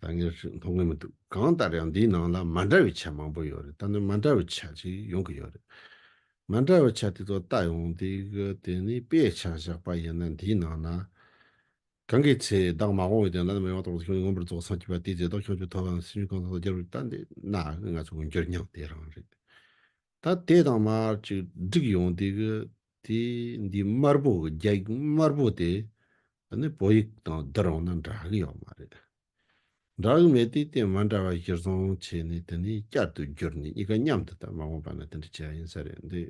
S1: ད་ངས་མཐོང་གི་མི་འདུག་གང་ལྟར་ཡང་འདིའི་ནང་ལ་མ་འདྲ་བའི་ཆ་མང་པོ་ཡོད་རེད་ད་ནི་མ་འདྲ་བའི་ཆ་ཅིག་ཡོང་གི་ཡོད་རེད། མ་འདྲ་བའི་ཆ་དེ་ཚོ་བལྟ་ཡོང་དུས་དེ་ནི་དཔེ་ཆ་བཞག་པ་ཡིན་ན་འདིའི་ནང་ན། གང་གི་ཚེ་བདག་མ་དགོངས་བའི་དོན་བླ་ན་མེད་པ་རྟོགས་པ་དེ་ཁྱོད་ཀྱིས་མངོན་པར་རྫོགས་སངས་རྒྱས་པ་དེའི་རྫས་རྟོགས་ཁྱོད་ཀྱི་ཐོབ་བམ་སེམས་ཅན་གང་ཟག་ལ་སྦྱར་བའི་རྟགས་འདི་ན་ང་ཚོས་མངོན་གྱུར་མྱང་འདས་རང་རེད། ད་དེ་དང་མར་ཅིག་བསྒྲིགས་ཡོང་དེ་གི་དེ་འདི་དམར་པོ་གི་རྒྱ་ཡིག་དམར་པོ་དེ་ནི་བོད་ཡིག་དང་བསྡུར་ཡོང་ན་འདྲ་གི་ཡོད་མ་རེད། འདྲ་གི་མེད་དུས་དེ་མ་འདྲ་བ་གཞིར་བཟུང་བྱས་ནས་དེ་ནི་བསྐྱར་དུ་བསྒྱུར་ནས་གཉིས་ཀ་མཉམ་དུ་བལྟ་མ་དགོངས་པ་ན་དེ་འདྲ་བྱས་ཡིན་ས་རེད་འདི།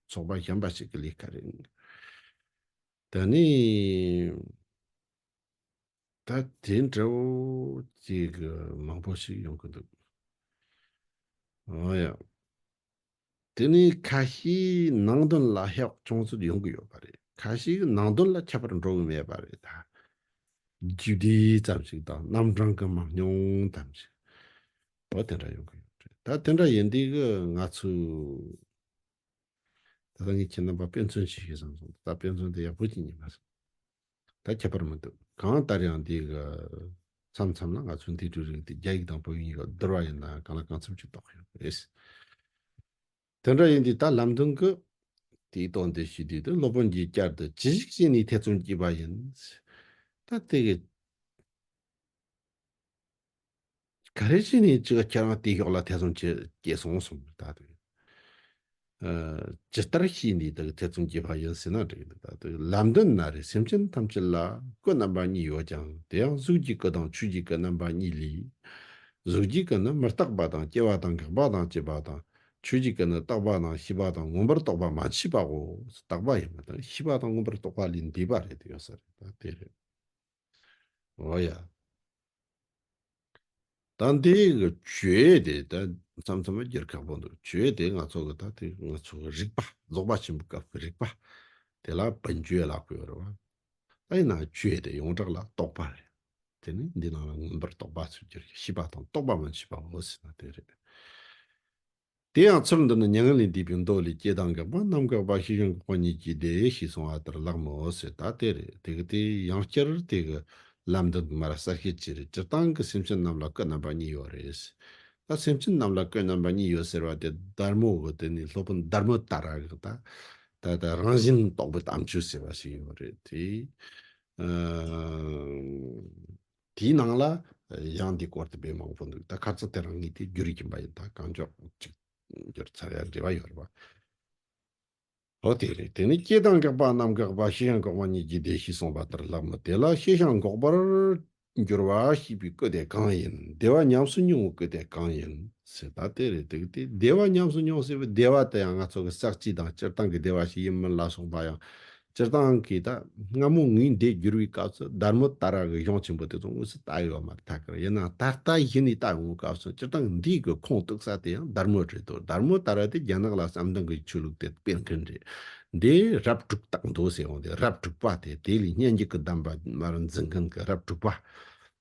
S1: ཚོགས་པ་གཞན་པ་ཞིག་གི་ལས་ཀ་རེད། ད་ནི་ད་དེ་འདྲ་བོ་ཅིག་གི་མང་པོ་ཞིག་ཡོང་གི་འདུག་ཨོ་ཡ། དེ་ནི་ཁ་ཤིའི་ནང་དོན་ལ་ཧེ་བག་ཅུང་ཟད་ཡོང་གི་ཡོད་པ་རེད་ཁ་ཤིའི་ནང་དོན་ལ་ཁྱད་པར་འགྲོ་གི་མེད་པ་རེད་ད། རྒྱུ་དེ་ཙམ་ཞིག་དང་རྣམ་གྲངས་ཀྱི་མང་ཉུང་ཙམ་ཞིག་ཨོ་དེ་འདྲ་ཡོང་གི་ཡོད་རེད་ད་དེ་འདྲ་ཡིན་དུས་ཀྱི་ང་ཚོས་ད་ལྟ་ངས་ཁྱེད་རྣམ་པར་དཔེ་མཚོན་བྱེད་ཤེས་སམ་གསུངས། ད་ལྟ་དཔེ་མཚོན་དེ་ཡག་པོ་ཅིག་ཉིད་མ་སོང། ད་ཁྱད་པར་མི་འདུག་གང་ལྟར་ཡང་འདིའི་གི། མཚམས་མཚམས་ལ་ང་ཚོའི་འདིའི་འབྲུ་རིགས་འདི་རྒྱ་ཡིག་དང་བོད་ཡིག་གཉིས་ཀར་བསྡུར་བ་ཡིན་ན་གང་ལ་གང་འཚམས་ཀྱིས་རྟོགས་ཡོད་པ་རེད། དེ་འདྲ་ཡིན་དུས་ད་ལམ་དུང་གི། དེའི་དོན་དེ་ཞུས་དུས་དེ་སློབ་དཔོན་གྱིས་བསྐྱར་དུ་ཇི་ཞིག་བྱས་ནས་ཐེ་ཚོམ་བགྱིས་པ་ཡིན། ད་དེ་གི། ག་རེ་བྱས་ནས་ཅི་ག་ཁྱེད་རང་བལྟས་ཤོག་ལ་ཐེ་ཚོམ་བྱེད་སྐྱེས་སོང་གསུངས་པ་ད་དུང། ཇི་ལྟར་བྱས་ནས་བདག་གི་ཐེ་ཚོམ་རྒྱས་པ་ཡིན་ཟེར་ན་འགྲིག་འདུག་ད་དུང་ལམ་མདུན་ན་རེ་སེམས་ཅན་ཐམས་ཅད་ལ་སྐུ་རྣམ་པ་གཉིས་ཡོད་ཀྱང་དེ་ཡང་གཟུགས་ཀྱི་སྐུ་དང་ཆོས་ཀྱི་སྐུ་རྣམ་པ་གཉིས་ལས། གཟུགས་ཀྱི་སྐུ་ནི་མི་རྟག་པ་དང་སྐྱེ་བ་དང་འགག་པ་དང་བཅས་པ་དང། ཆོས་ཀྱི་སྐུ་ནི་རྟག་པ་དང་ཤེས་པ་དང་མངོན་པར་རྟོགས་པ་མ་མཆིས་པའོ། རྟག་པ་ཡིན་པ་དང་ཤེས་པ་དང་མངོན་པར་རྟོགས་པ་ལས་འདས་པ་རེད་དེ་ཡོད་ས་རེད་ད་དེ་རེད། ལོ་ཡ། ད་འདི་གི་ཇོའི་དེ་ད་མཚམས་མཚམས་མ་འགྱུར་ཁག་པོ་འདུག་ཇོའི་དེ་ང་ཚོ་གི་ད་དེ་ང་ཚོ་གི་རིག་པ་རྫོགས་པ་ཆེན་པོ་སྐབས་ཀྱི་རིག་པ་དེ་ལ་བོན་ཇོའི་ལག་པས་རེད་བ། ད་ཡིན་ན་ཇོའི་དེ་ཡོངས་གྲགས་ལ་རྟོག་པ་རེད། དེ་ནི་འདི་ནང་ལ་མངོན་པར་རྟོགས་པ་ཚུལ་འགྱུར་གྱི་ཤེས་པ་དང་རྟོགས་པ་མ་མཆིས་པ་འོ་སྲིད་ན་དེ་རེད། དེ་ཡང་ཚུལ་འདི་ནི་མྱ་ངན་ལས་འདས་པའི་མདོ་ལས་སྐྱེ་དང་འགག་པ་རྣམ་འགག་པ་ཤེས་བྱུང་འགོག་པ་ཉིད་ཀྱིས་བདེ་ཞེས་གསུང་བ་ལྟར་ལགས་མོད་ཟེར་ད་དེ་རེད་དེ་གི་དེ་ཡང་བསྐྱར་དེ་གི་ལམ་འདི་མར་གསལ་བཤད་བྱེད་རེས་སྤྱིར་བཏང་གི་སེམས་ཅན་རྣམས་ལ་སྐུ་རྣམ་པ་གཉིས་ཡོད་རེས་ད་སེམས་ཅན་རྣམས་ལ་སྐུ་རྣམ་པ་གཉིས་ཡོད་ཟེར་བ་དེ་སྡར་མོ་གི་དེ་ནི་སློབ་དཔོན་སྡར་མོ་ལྟར་ར་གི་ད་ད་ད་རང་བཞིན་རྟོགས་པའི་དམ་ཆོས་ཟེར་བ་ཞིག་ཡོད་རེད་དེ། དེའི་ནང་ལ་ཡང་འདིའི་སྐོར་དེ་བས་མང་པོ་འདུག་ད་ཁ་ཚ་དེ་རང་ངེས་དེ་རྒྱུ་རིག་གིན་པ་ཡིན་ད་གང་མགྱོགས་གཅིག་གྱུར་ཚར་ཡ་འབྲེལ་བ་ཡོད་རེད་བ། ཨོ་དེ་རེད་དེ་ནི་སྐྱེས་དང་འགག་པ་རྣམ་འགག་པ་ཤེས་བྱ་འགོག་པ་གཉིས་ཀྱི་སྡེ་ཞེས་གསུངས་པ་ལྟར་ལགས་མོད་དེ་ལ་ཤེས་བྱ་འགོག་པར་འགྱུར་བ་ཞེས་པའི་སྐུ་དེ་གང་ཡིན་བདེ་བ་ཉམས་སུ་མྱོང་བའི་སྐུ་དེ་གང་ཡིན་ཟེར་ད་དེ་རེད་འདུག་དེ་བདེ་བ་ཉམས་སུ་མྱོང་ཟེར་བའི་བདེ་བ་དེ་ཡང་ང་ཚོ་གི་བསགས་རྩིས་དང་སྤྱིར་བཏང་གི་བདེ་བ་ཞིག་ཡིན་མིན་ལ་སོགས་པ་ཡང་སྤྱིར་བཏང་གི་ད་སྔ་མོ་ངའི་འདས་འགྱུར་བའི་སྐབས་སུ་སྡར་མོ་ལྟར་རང་གི་གཞུང་ཆེན་པོ་དེ་ཚོ་དངོས་སུ་བལྟ་ཡོད་མ་ཐག་གི་ཡིན་ནའང་ད་ལྟ་གཞི་ནས་བལྟ་འོང་བའི་སྐབས་སུ་སྤྱིར་བཏང་འདིའི་གི་ཁུངས་གཏུག་ས་དེ་ཡང་སྡར་མོ་རེད་དོ་སྡར་མོ་ལྟར་བ་དེ་རྒྱ་ནག་ལ་བསམ་གཏན་གྱི་ཆོས་ལུགས་དེ་སྤེལ་མཁན་རེད་དེ་རབ་དྲུག་སྟག་མདོ་ཟེར་བ་དེ་རབ་དྲུག་པ་དེ་དེ་ལས་སྙན་རྒྱུད་ཀྱི་གདམས་པ་མར་འཛིན་མཁན་གྱི་རབ་དྲུག་པ།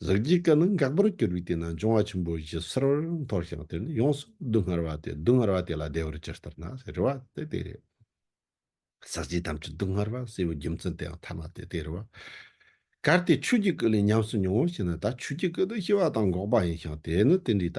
S1: གཟུགས་ཀྱི་སྐུ་ནི་འགག་པར་གྱུར་པའི་དུས་ན་འབྱུང་བ་ཆེན་པོ་བཞི་གསལ་བར་མཐོང་ཞིང་དེ་ནི་ཡོངས་སུ་སྡུག་བསྔལ་བ་སྟེ་སྡུག་བསྔལ་བ་དེ་ལ་བདེ་བར་ཅི་ལྟར་ན་རེ་བ་སྟེ་དེ་རེད། ཟག་བཅས་ཐམས་ཅད་སྡུག་བསྔལ་བ་སྲས་པོའི་རྒྱུ་མཚན་དེའང་ཐ་མ་སྟེ་དེ་རེ་བ། གལ་ཏེ་ཆོས་ཀྱི་སྐུ་ལས་ཉམས་སུ་མྱོང་ངོ་ཞེ་ན་ད་ཆོས་ཀྱི་སྐུ་དང་ཤེས་པ་དང་འགོག་པ་ཡིན་ཞིང་དེ་ནི་དེ་འདྲའི་ད་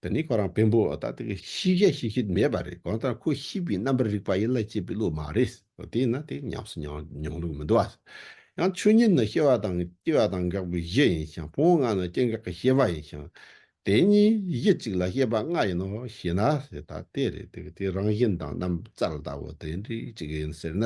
S1: འདི་ནི་ཁོ་རང་བེམ་པོ་ད་ལྟ་ཤི་ཤ་ཤི་ཤི་མེད་པ་རེད་གང་ལྟར་ཁོ་ཤི་བའི་རྣམ་པར་རིག་པ་ཡིད་ལ་བྱེད་པའི་བློ་མ་རེད་དེས་ན་དེ་ཉམས་སུ་མྱོང་ལུགས་མི་འདུག་ཨ། ཡང་ཆོས་ཉིད་ནི་སྐྱེ་བ་དང་སྐྱེ་བ་དང་འགག་པའི་གཞི་ཡིན་ཞིང་ཕུང་བོ་ལྔ་ནི་སྐྱེ་འགག་གི་ཤེས་པ་ཡིན་ཞིང། དེ་གཉིས་གཞི་གཅིག་ལ་ཤེས་པ་ལྔ་ཡིན་ནོ་ཞེ་ན་ད་དེ་རེད་དེ་དེ་རང་བཞིན་དང་རྣམ་རྩལ་ལྟ་བུ་དེ་འདྲའི་གཅིག་ཡིན་ཟེར་ན་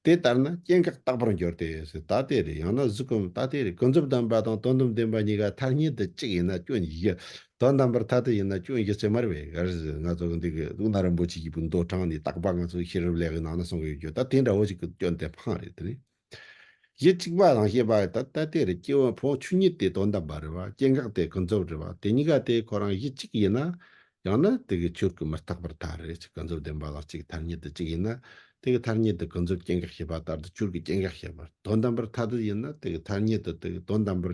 S1: དེ་ལྟར་ན་སྐྱེ་འགག་རྟག་པར་འགྱུར་ཏེ་ད་དེ་རེད་ཡང་ན་གཟུགས་ཀུན་ད་དེ་རེད་ཀུན་རྫོབ་དམ་པ་དང་དོན་དམ་བདེན་པ་གཉིས་ཀ་མཐར་ཉིད་དུ་གཅིག་ཡིན་ན་སྐྱོན་གཞི་དོན་དམ་པར་ཐ་དད་ཡིན་ན་ཁྱོད་ཀྱི་རྩེ་མར་བའི་གར་ཟིག་ང་ཚོ་གི་འདི་གི་ལུག་ནག་རིན་པོ་ཆེ་གྱི་བུ་མདོ་དྲངས་ནས་རྟག་པ་ང་ཚོའི་ཤེས་རབ་ལས་གི་ནང་ན་སོང་གི་ཡོད་རྒྱུ་ད་དེ་འདྲ་བོ་ཞིག་གི་སྐྱོན་དེ་འཕངས་རེད་དེ་ནས་གཞི་གཅིག་པ་དང་ཤེས་པ་ད་ལྟ་དེ་རེད་སྐྱེ་བོ་ཕོངས་ཆུ་གཉིས་དེ་དོན་དམ་པ་རེད་བ་སྐྱེ་འགག་དེ་ཀུན་རྫོབ་རེད་བ་དེ་གཉིས་ཀ་དེ་ཁོ་རང་གཞི་གཅིག་ཡིན་ན་ཡང་ན་དེ་གི་ཆོས་གི་མི་རྟག་པར་ཐ་རེད་ཅིག་ཀུན་རྫོབ་བདེན་པ་ལ་གཅིག་ཐར་ཉིད་དུ་གཅིག་ཡིན་ན་དེ་གི་ཐར་ཉིད་དུ་ཀུན་རྫོབ་སྐྱེ་འགག་ཤེས་པ་ལྟར་དུ་ཆོས་གི་སྐྱེ་འགག་ཤེས་པ་དོན་དམ་པར་ཐ་དད་ཡིན་ན་དེ་གི་ཐར་ཉིད་དུ་དེ་གི་དོན་དམ་པར་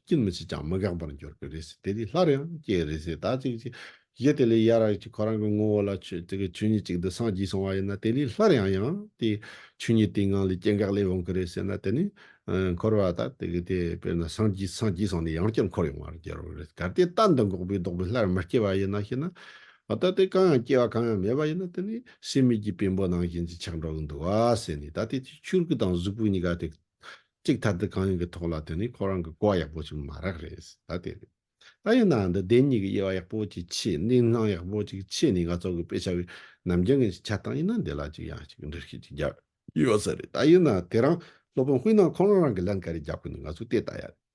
S1: སྐྱིད་མི་བྱེད་ཀྱང་མི་འགག་པར་འགྱུར་གྱི་རེད་ཟེར་དེ་དུས་སླར་ཡང་སྐྱེ་རེད་ཟེར་ད་ཅིག་ཅིག། གཞི་དེ་ལས་ཡ་ར་ཅིག་ཁོ་རང་གི་ངོ་བོ་ལ་ཆོས་ཆོས་ཉིད་ཅིག་འདི་སངས་རྒྱས་སོང་བ་ཡིན་ན་དེ་ལས་སླར་ཡང་ཡང་དེ་ཆོས་ཉིད་དེའི་ངང་ལས་སྐྱེ་འགག་ལས་འོང་གི་རེད་ཟེར་ན་དེ་ནི། འཁོར་བ་ད་དེ་གི་དེ་དཔེར་ན་སངས་རྒྱས་སངས་རྒྱས་སོང་ནས་ཡང་བསྐྱར་འཁོར་ཡོང་བར་འགྱུར་རེད་གལ་ཏེ་རྟ་འདི་འགོག་པའི་ལྡོག་པས་སླར་མི་སྐྱེ་བ་ཡིན་ན་ཞེ་ན། ད་ལྟའི་གང་ཡང་སྐྱེ་བ་གང་ཡང་མེད་པ་ཡིན་ན་དེ་ནི་སྲིད་མེད་ཀྱི་བེམ་པོ་ནང་བཞིན་གྱི་ཆགས་འགྲོ་གི་འདུག་བ་ཟེར་ནས་ད་ལྟའི་ཆོས་ཀྱི་ཆུར་གུད་དང་གཟུགས་པོ་གཉིས་ཀ་དེ་གཅིག་ཐ་དད་གང་ཡིན་གྱི་ཐོག་ལ་དེ་ནི་ཁོ་རང་གི་གོ་བ་ཡག་པོ་ཞིག་མ་རག་རེད་ད་དེ་རེད། ད་ཡིན་ནའང་འདི་བདེན་གཉིས་ཀྱི་དབྱེ་བ་ཡག་པོ་ཅིག་ཕྱེས་གནས་སྣང་ཡག་པོ་ཅིག་ཕྱེས་ནས་ང་ཚོ་གི་དཔེ་ཆ་བའི་ནམ་རྒྱུན་གྱི་ཆ་སྟངས་ཡིན་ན་འདི་ལ་ཅིག་ཡང་ཅིག་འདྲི་ཤེས་ཅིག་རྒྱག་ཡོད་ས་རེད་ད་ཡིན་ནའང་དེ་རང་སློབ་དཔོན་དཔོན་ནང་ཁོང་རང་རང་གི་ལན་ག་རེ་རྒྱག་དགོས་ནི་ང་ཚོས་དེ་ལྟ་ཡ་རེད།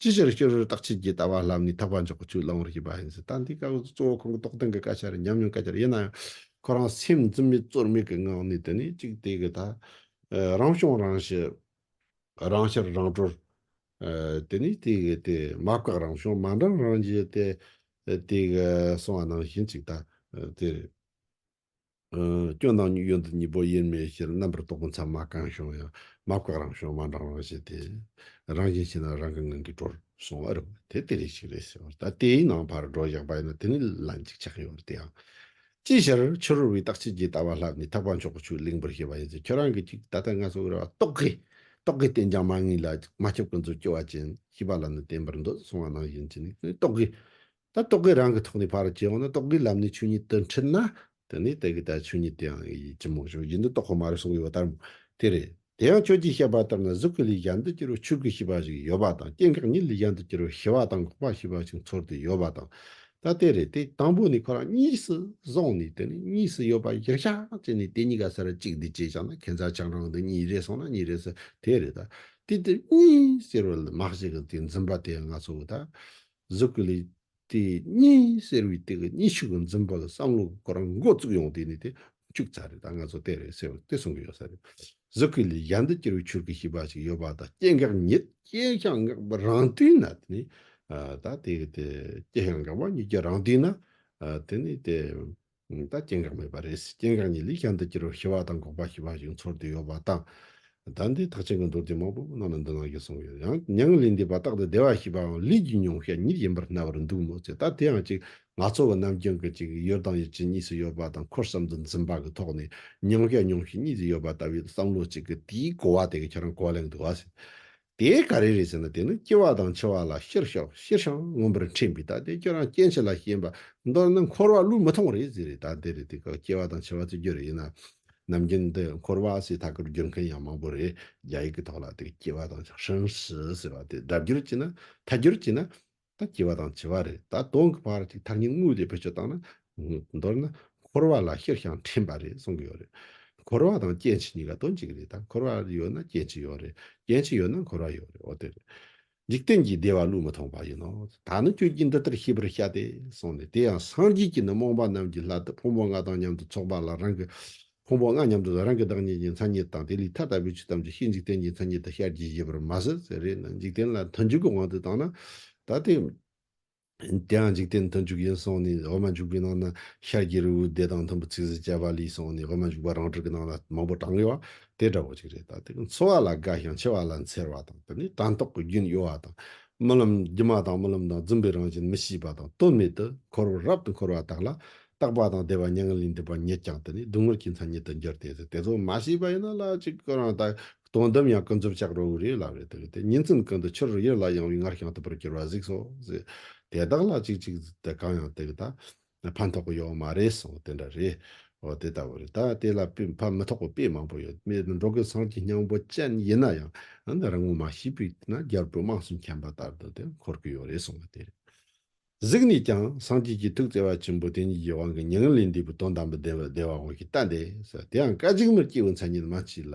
S1: ཅི་ཕྱིར་ཤེས་རོལ་རྟག་ཆད་ཀྱི་ལྟ་བ་ལམ་ནས་དག་པ་འཇོག་པའི་ཚུལ་བླང་བར་བྱེད་པ་ཡིན། ད་འདི་སྐབས་གཙོ་བོ་ཁོང་གི་རྟོགས་ལྡན་གྱི་བཀའ་ཆ་རེད་སྙམ་མྱོང་སྐད་ཆ་རེད་ཡིན་ན་ཡང། ཁོ་རང་སེམས་འཛིན་མེད་རྩོལ་མེད་ཀྱི་ངང་ནས་དེ་ནས་གཅིག་དེ་གི་ད། རང་བྱུང་རང་ཞི། རང་ཤར་རང་གྲོལ། དེ་ནས་དེ་གི་དེ་མ་བཀག་རང་བྱུང་མ་འགྲངས་རང་རྒྱལ་ཏེ། དེ་གི་གསང་བ་ནང་བཞིན་གཅིག་ད། དེ། སྐྱོན་དང་གཡོན་དུ་གཉིས་པོ་དབྱེར་མེད་ཕྱིར་རྣམ་པར་རྟོག་པའི་མཚམས་མ་བཀང་ཞིང་ཡང་མ་བཀག་རང་བྱུང་མ་འབྲང་བར་བྱས་ཏེ། རང་བཞིན་ཞིག་ན་རང་གི་ངང་གིས་འགྲོར་སོང་བ་རེད། དེ་ལྟེ་རེ་ཞིག་རེད་ཟེར་བ་ལྟར་དེའི་ནང་ཕར་འགྲོ་བཞག་པ་ཡིན་ན་དེ་ནི་ལ་འཇིགས་ཆགས་ཡོད་རེད་དེའང། ཅིའི་ཕྱིར་ཕྱི་རོལ་བའི་རྟགས་ཕྱི་རྒྱལ་ལྟ་བ་ལྷག་མི་ཐག་པ་མཆོག་གི་ཆོས་གླིང་བུར་ཤེས་པ་ཡིན་ཚེ་ཁྱོད་རང་གིས་ཅིག་ད་ལྟ་ང་ཚོ་འོས་པ་རྟོག་གེ། རྟོག་གེ་བསྟེན་ཀྱང་མ་ངེས་ལ་མ་ཁྱབ་ཀུན་རྫོབ་སྐྱེ་བ་ཅན་ཤེས་པ་ལ་ནི་བརྟེན་པར་འདོད་སོང་བ་ནང་བཞིན་གྱི་ནི་རྟོག་གེ། ད་རྟོག་གེ་རང་གི་ཐོག་ནས་ཕར་བྱེད་འོང་ན་རྟོག་གེའི་ལམ་ནས་ཆོས་ཉིད་དུ་འཁྲིད་ན། དེ་ནས་དེ་གའི་ད་ཆོས་ཉིད་དེ་ཡང་ཡིད་ཀྱི་རྨོངས་ཤིང་ཡིད་འདི་རྟོག་གོ་མ་རེད་གསུངས་ཡོད་པ་ལྟར་མོད། དེ་རེད། དེ་ཡང་ཁྱོད་ཀྱིས་བཤད་པ་ལྟར་ན་གཟུགས་ཀྱི་ལུས་གཞན་དུ་གྱུར་བའི་ཆོས་ཀྱི་ཤེས་པ་ཞིག་ཡོད་པ་དང་སྐྱེ་འགག་གཉིས་ལུས་གཞན་དུ་གྱུར་བའི་ཤེས་པ་དང་འགོག་པ་ཤེས་པ་ཞིག་འཚོལ་དུ་ཡོད་པ་དང། ད་དེ་རེད་དེ་དང་པོ་ནས་ཁོ་རང་གཉིས་སུ་བཟུང་ནས་དེ་ནས་གཉིས་སུ་ཡོད་པ་གཞིར་བཞག་བྱས་ནས་དེ་གཉིས་ཀ་ཟེར་བ་གཅིག་འདི་བྱས་བཞག་ན་ཁྱད་མཚར་ཆགས་རང་དུ་གཉིས་རེད་གསུངས་ན་གཉིས་རེད་ཟེར་དེ་རེད་ད། དེ་དེ་གཉིས་ཟེར་བ་ལ་མ་གཞི་གི་དེ་འཛིན་པ་དེ་ཡང་ང་ཚོ་གི་ད། གཟུགས་ཀྱི་ལས་དེ་གཉིས་སེལ་བའི་སྟེགས་གཉིས་ཕྱུག་གི་འཛིན་པ་ལ་བསམ་བློ་དགོས་རང་མགོ་བཙུགས་ཡོང་དེ་ནས་དེ་བཅུག་ཚར་རེད་ད་ང་ཚོ་དེ་རེད་ཟེར་བ་དེ་གསུང་གི་ཡོད་ས་རེད། གཟུགས་ཀྱི་ལས་གཞན་དུ་བསྐྱུར་བའི་ཆུར་གྱི་ཤིས་པ་ཞིག་ཡོད་པ་ད་སྐྱེ་འགག་ཉིད་སྐྱེ་ཞིང་འགག་པ་རང་དུས་ན་དེ་ནས་ད་དེ་སྐྱེ་ཞིང་འགག་པ་ཉིད་ཀྱི་རང་དུས་ན་དེ་ནས་དེ། ད་སྐྱེ་འགག་མེད་པ་རེད། སྐྱེ་འགག་གཉིས་ལུས་ཀྱང་འདི་སྐྱེ་རུ་ཤི་བ་དང་འགོག་པ་ཤི་བ་ཞིག་འཚོར་དུ་ཡོད་པ་དང། ཟླ་འདིའི་ཐག་ཆེན་གྱི་མདོར་བསྡུས་མང་པོ་གནང་ནས་འདི་གནང་རྒྱུ་གསུངས་ཡོད། ཡང་མྱང་ལི་འདི་བ་ཏག་ཏུ་བདེ་བ་ཞེས་པའང་ལུས་ཀྱི་མྱོང་ཤ་ཉིད་ཡིན་པར་སྣང་བར་འདུག་མོད་ཚེ་ད་དེའང་ཅིག་ང་ཚོ་བ་ནམ་རྒྱུན་གྱི་ཅིག་ཡོད་དང་ཡོད་ཅིག་གཉིས་སུ་ཡོད་པ་དང་འཁོར་བསམ་དུ་འཛིན་པ་གྱི་ཐོག་ནས་མྱོང་ཤ་མྱོང་ཤ་གཉིས་སུ་ཡོད་པ་ལྟ་བུའི་བསམ་བློ་ཅིག་གི་དེའི་གོ་བ་དེ་ག་ཁྱེད་རང་གོ་གླེང་འདུག་བ། དེ་ག་རེ་རེད་ཟེར་ན་དེ་ནི་སྐྱེ་བ་དང་འཆི་བ་ལ་ཤེར་ཤོག་ཤེར་ཤང་མངོན་པར་འཕྲེང་བའི་ད་དེ་ཁྱོད་རང་སྐྱེ་འཆི་ལ་ཞེན་པ་མདོར་ན་འཁོར་བ་ལུས་མི་ཐོང་རེད་ཟེར་རེད་ད་འདི་རེད་དེ་ག་སྐྱེ་བ་དང་འཆི་བ་རྩི་རྒྱུ་རེད་ཡིན་ན་ནམ་རྒྱུན་འདི་འཁོར་བ་ཞེས་ཐག་གིར་བསྒྱུར་མཁན་ཡང་མང་པོ་རེད་རྒྱ་ཡིག་གི་ཐོག་ལ་དེ་སྐྱེ་བ་དང་ཧྲིན་ཧྲི་ཟེར་བ་དེ་སྒྲ་བསྒྱུར་བྱས་ན་ཐ་སྒྱུར་བྱས་ན་ད་སྐྱེ་བ་དང་བྱེད་པ་རེ་ད་གདོང་གི་བར་གྱི་མཐར་ཉིད་དངོས་དེ་བེད་སྤྱོད་བཏང་ན། མདོར་ན། འཁོར་བ་ལ་ཤེར་ཞིང་དྲན་པ་རེ་གསུངས་ཀྱི་ཡོད་རེད། འཁོར་བ་དང་སྐྱེ་འཆི་གཉིས་ཀ་དོན་གཅིག་རེད་ད་འཁོར་བ་ཡོད་ན་སྐྱེ་འཆི་ཡོད་རེད་སྐྱེ་འཆི་ཡོད་ན་འཁོར་བ་ཡོད་རེད་འོ་དེ་རེད། འཇིག་རྟེན་གྱི་བདེ་བ་བློས་མི་ཐོངས་པ་ཡིན་ནོ། ད་ནི་ཁྱོད་ཀྱིས་འདི་ལྟར་ཤེས་པར་བྱ་སྟེ། གསུངས་ནས་དེ་ཡང་སངས་རྒྱས་ཀྱིས་ནི་རྨོངས་པ་རྣམས་ཀྱི་ལྷ་དེ་ཕུང་པོ་ལྔ་དང་མཉམ་དུ་ཚོགས་པ་ལ་རང་གི་ཕུང་པོ་ལྔ་མཉམ་དུ་རང་གི་བདག་ཉིད་ཀྱི་མཚན་ཉིད་དང་དེ་ལས་ཐ་དད་པའི་ཆོས་ཐམས་ཅད་ཤེས་འཇིག་རྟེན་གྱི་མཚན་ཉིད་དུ་ཤར་གྱིས་ཞེས་པར་མ་ཟད་ཟེར་རེ་ན་འཇིག་རྟེན་ལ་མཐུན་འཇུག་གི་དབང་དུ་བཏང་ན། ད་དེ་དེའང་འཇིག་རྟེན་མཐུན་འཇུག་ཡིན་གསུངས་ནས་འོག་མ་འཇུག་པའི་ནང་ན་ཤར་གྱི་རི་བོའི་སྡེ་དང་མཐུན་པའི་ཚིག་ཟིན་བཅའ་བ་ལས་གསུངས་ནས་འོག་མ་འཇུག་པ་རང་གྲོལ་གྱི་ནང་ན་མང་པོ་བགྲང་ཡོད་པ་དེ་འདྲ་བོ་ཅིག་རེད་ད་དེ་འཚོ་བ་ལ་དགའ་ཞིང་འཆི་བ་ལ་འཚེར་བ་དང་དེ་ནི་དྲན་རྟོག་གི་རྒྱུན་གཡོ་བ་དང་རྨི་ལམ་སྒྱུ་མ་དང་རྨི་ལམ་དང་བརྫུན་པའི་རང་བཞིན་མི་ཤེས་པ་དང་དོན་མེད་དུ་འཁོར་བར་རབ་ཏུ་འཁོར་བ་དག་ལ་རྟག་པ་དང་བདེ་བ་མྱ་ངན་ལས་འདས་པ་ཉིད་ཀྱང་དེ་ནས་སྡུག་བསྔལ་གྱི་མཚན་ཉིད་དུ་འགྱུར་ཏེ་དེ་ཚོ་མ་ཤེས་པ་ཡིན་ན་ལ་ཅིག་ཁོ་རང་དག་དོན་དམ་ཡང་ཀུན་རྫོབ་ཆགས་རོ་རེད་ལབ་རེད་དེ་དེ་ཉིད་ཚུལ་ཀུན་ཏུ་ཆུ་རུ་ཡུར་ལ་ཡང་བའི་སྔར་བྱང་ཐུབ་པར་གྱུར་པ་གཟིགས་སོ། དེ་དག་ལ་ཅིག་ཅིག་དེ་གང་ཡང་དེ་དག་ཕན་ཐོགས་པ་ཡོད་མ་རེད་སོང་དེ་འདྲ་རེད། འོ་དེ་ལྟ་བུ་རེད་ད་དེ་ལ་ཕན་མི་ཐོགས་པ་དཔེ་མང་པོ་ཡོད་མེད་འགྲོ་གི་སངས་ཀྱི་སྙིང་པོ་ཅན་ཡིན་ན་ཡང་རང་ངོ་མ་ཤེས་པས་ན་རྒྱལ་པོའི་དམངས་སུ་མཁྱེན་པ་ལྟར་དུ་དེ་འཁོར་གྱི་ཡོད་རེད་སོང་བ་དེ་རེད། གཟིགས་ནས་ཀྱང་སངས་རྒྱས་ཀྱི་ཐུགས་བརྩེ་བ་ཆེན་པོ་དེ་ཉིད་ཀྱི་དབང་གི་མྱ་ངན་ལས་འདས་པའི་དོན་དམ་པའི་བདེན་པ་བདེ་བ་དབང་གིས་བསྟན་ཏེ། དེའང་སྐད་ཅིག་མར་སྐྱེས་བུ་མཚན་ཉིད་མ་མཆིས་ལ།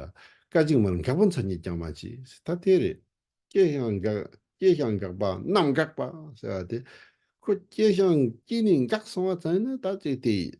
S1: སྐད་ཅིག་མར་འགག་པོ་མཚན་ཉིད་ཀྱང་མ་མཆིས་ད་དེ་རེད། སྐྱེས་ཤིང་འགག་སྐྱེས་ཤིང་འགག་པ་རྣམས་འགགས་པ་ཟེར་བ་དེ། ཁོ་སྐྱེས་ཤིང་སྐྱེས་ནས་འགགས་སོང་བ་ཙམ་ནི་དག་ཅིག་དེ་ཡིན།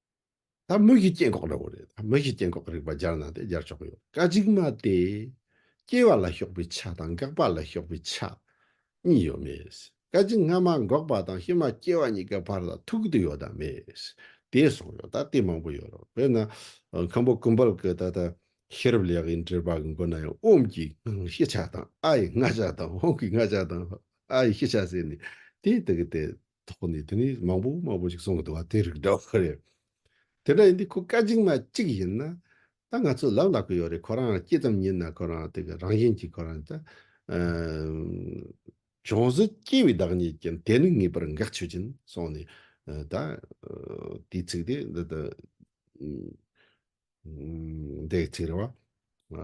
S1: ད་མིག་གི་སྐྱེ་འགོག་རེད། མིག་གི་སྐྱེ་འགོག་རིག་པ་སྦྱར་ན་དེ་སྦྱར་ཆོག་གི་ཡོད། ཀ་གཅིག་མ་སྟེ། སྐྱེ་བ་ལ་ཞོགས་པའི་ཆ་དང་འགག་པ་ལ་ཞོགས་པའི་ཆ། གཉིས་ཡོད་མེད། ཀ་གཅིག་སྔ་མ་འགོག་པ་དང་ཕྱི་མ་སྐྱེ་བ་གཉིས་ཀའི་བར་ལ་ཐུག་དུ་ཡོད་དམ་མེད། དེ་གསུངས་ཡོད། ད་ལྟའི་མང་པོ་ཡོད་རེད། དཔེར་ན། མཁན་པོ་ཀུན་དཔལ་གྱི་ད་ལྟ་ཤེས་རབ་ལེགས་ཡིན་འགྲེལ་པ་གི་མགོ་ན་ཡང་དབུམ་གྱི་སྔགས་ཤེས་བྱ་དང་ཨ་ཡི་སྔགས་བྱ་དང་དབུམ་གྱི་སྔགས་བྱ་དང་ཨ་ཡི་ཤེས་བྱ་ཟེར་ནས་དེ་དག་དེ་ཐོག་ནས་དེ་ནས་མང་པོ་མང་པོ་ཞིག་གསུང་གི་འདུག་བ་དེ་རིགས་འདྲ་བོ་རེད། དེ་འདྲ་ཡིན་དུས་ཁོ་བཀའ་བྱིངས་མ་གཅིག་ཡིན་ན། ད་ང་ཚོས་ལབ་ལབ་གི་ཡོད་རེད་ཁོ་རང་སྐྱིད་ཙམ་ཉིན་ན་ཁོ་རང་དེ་གི་རང་བཞིན་གྱིས་ཁོ་རང་ད། གྱོང་གཟུགས་སྐྱེ་བའི་བདག་ཉིད་ཀྱིན་དེ་ནི་ངེས་པར་འགག་ཆོད་ཀྱིན་སོང་ནས་ད། དེའི་ཚིག་དེ་འདི་དང། འདའི་ཚིག་རེད་བ།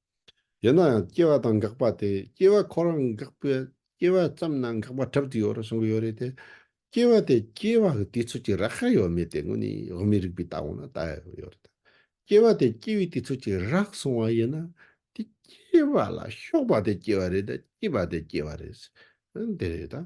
S1: ཡིན་ན་ཡང་སྐྱེ་བ་དང་འགག་པ་དེ་སྐྱེ་བ་ཁོ་རང་འགག་པས་སྐྱེ་བ་ཙམ་ན་འགག་པ་འཁྲབ་ཏུ་ཡོད་རེད་གསུང་གི་ཡོད་རེད་དེ། སྐྱེ་བ་དེ་སྐྱེ་བ་གི་དུས་ཚོད་ཀྱི་རག་ཤ་ཡོད་མེད་དེ་དངོས་ནས་དབུ་མའི་རིགས་པའི་ལྟ་བ་ན་ལྟ་ཡག་པོ་ཡོད་རེད་དཱ། སྐྱེ་བ་དེ་སྐྱེ་བའི་དུས་ཚོད་ཀྱི་རག་སོང་བ་ཡིན་ན་དེ་སྐྱེ་བ་ལ་ཞོགས་པ་དེ་སྐྱེ་བ་རེད་དཱ་སྐྱིད་པ་དེ་སྐྱེ་བ་རེད། འདི་རེད་དཱ།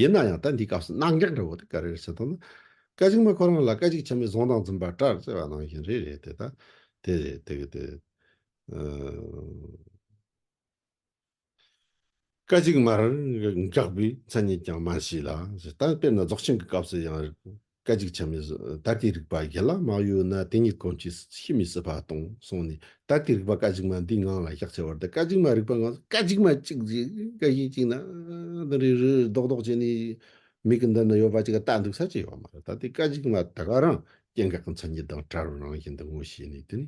S1: ཡིན་ན་ཡང་ད་འདིའི་སྐབས་སུ་སྣང་འགག་འདྲ་བོ་དེ་ག་རེ་རེད་ཟེར་དོན་ནི། སྐད་ཅིག་མ་ཁོ་རང་ལ་སྐད་ཅིག་ཆད་མེད་བཟུང་དང་འཛིན་པ་སྐྲར་བརྩེ་བ་ནང་བཞིན་རེ་རེད་དེ་ད་དེ་རེད་དེ་གི་དེ། སྐད་ཅིག་མར་འགག་པའི་མཚན་ཉིད་ཀྱང་མ་མཆིས་ལ་ཞེས་ད་དཔེར་ན་རྫོགས་ཆེན་གྱི་སྐབས་སུ་ཡང། སྐད་ཅིག་ཆ་མེད་ད་ལྟའི་རིག་པ་ཡན་ལག་མང་ཡོད་ན་དེ་གཉིས་གང་ཅིས་ཤི་མི་སྲིད་པ་སྟོང་སོང་ནས་ད་ལྟའི་རིག་པ་སྐད་ཅིག་མ་འདིའི་ངང་ལ་བཞག་ཆེ་བར་དུ་སྐད་ཅིག་མ་རིག་པ་ངང་སྐད་ཅིག་མ་གཅིག་གཅིག་སྐད་གཞི་གཅིག་ན་དང་རིག་རིག་རིག་ལྡོག་ལྡོག་བྱས་ནས་མིག་གི་མདུན་ན་ཡོད་པ་གཅིག་ལྟ་འདུག་ས་ཅི་ཡོད་མ་རེད་ད་ལྟའི་སྐད་ཅིག་མ་དེ་ག་རང་སྐྱེ་འགག་གི་མཚན་ཉིད་དང་བྲལ་བའི་རང་བཞིན་དུ་ངོ་ཤེས་ནས་དེ་ནི་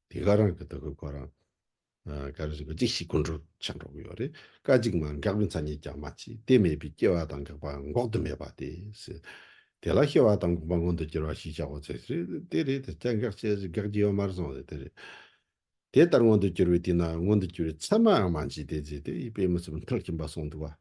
S1: དེ་ག་རང་གི་དུ་གུ་གོ་རང་ག་རེ་ཟེར་གི་ཅིག་ཤིག་ཀུན་འགྲོ་ཆེན་འགྲོ་གི་ཡོད་རེད་ཀ་ཅིག་མ་འགགས་པའི་མཚན་ཉིད་ཀྱང་མ་མཆིས་དེ་མེད་པའི་སྐྱེ་བ་དང་འགག་པ་འགོག་ཏུ་མེད་པ་དེ་སྲིད། དེ་ལ་སྐྱེ་བ་དང་འགོག་པ་མངོན་དུ་གྱུར་པ་ཞེས་བྱའོ་ཟེར་གྱི་རེད་དེ་རེད་དེ་སྐྱེ་འགག་སྐྱེ་འགག་ཀྱི་ཡོད་མ་རེད་སོང་ཟེར་དེ་རེད། དེ་ལྟར་མངོན་དུ་གྱུར་པའི་དུས་ན་མངོན་དུ་གྱུར་པའི་མཚན་མའང་མ་མཆིས་དེ་རྗེས་དེ་ཡི་དཔེ་མི་སྲིད་པར་མཐར་ཕྱིན་པ་སོང་འདུག་བ།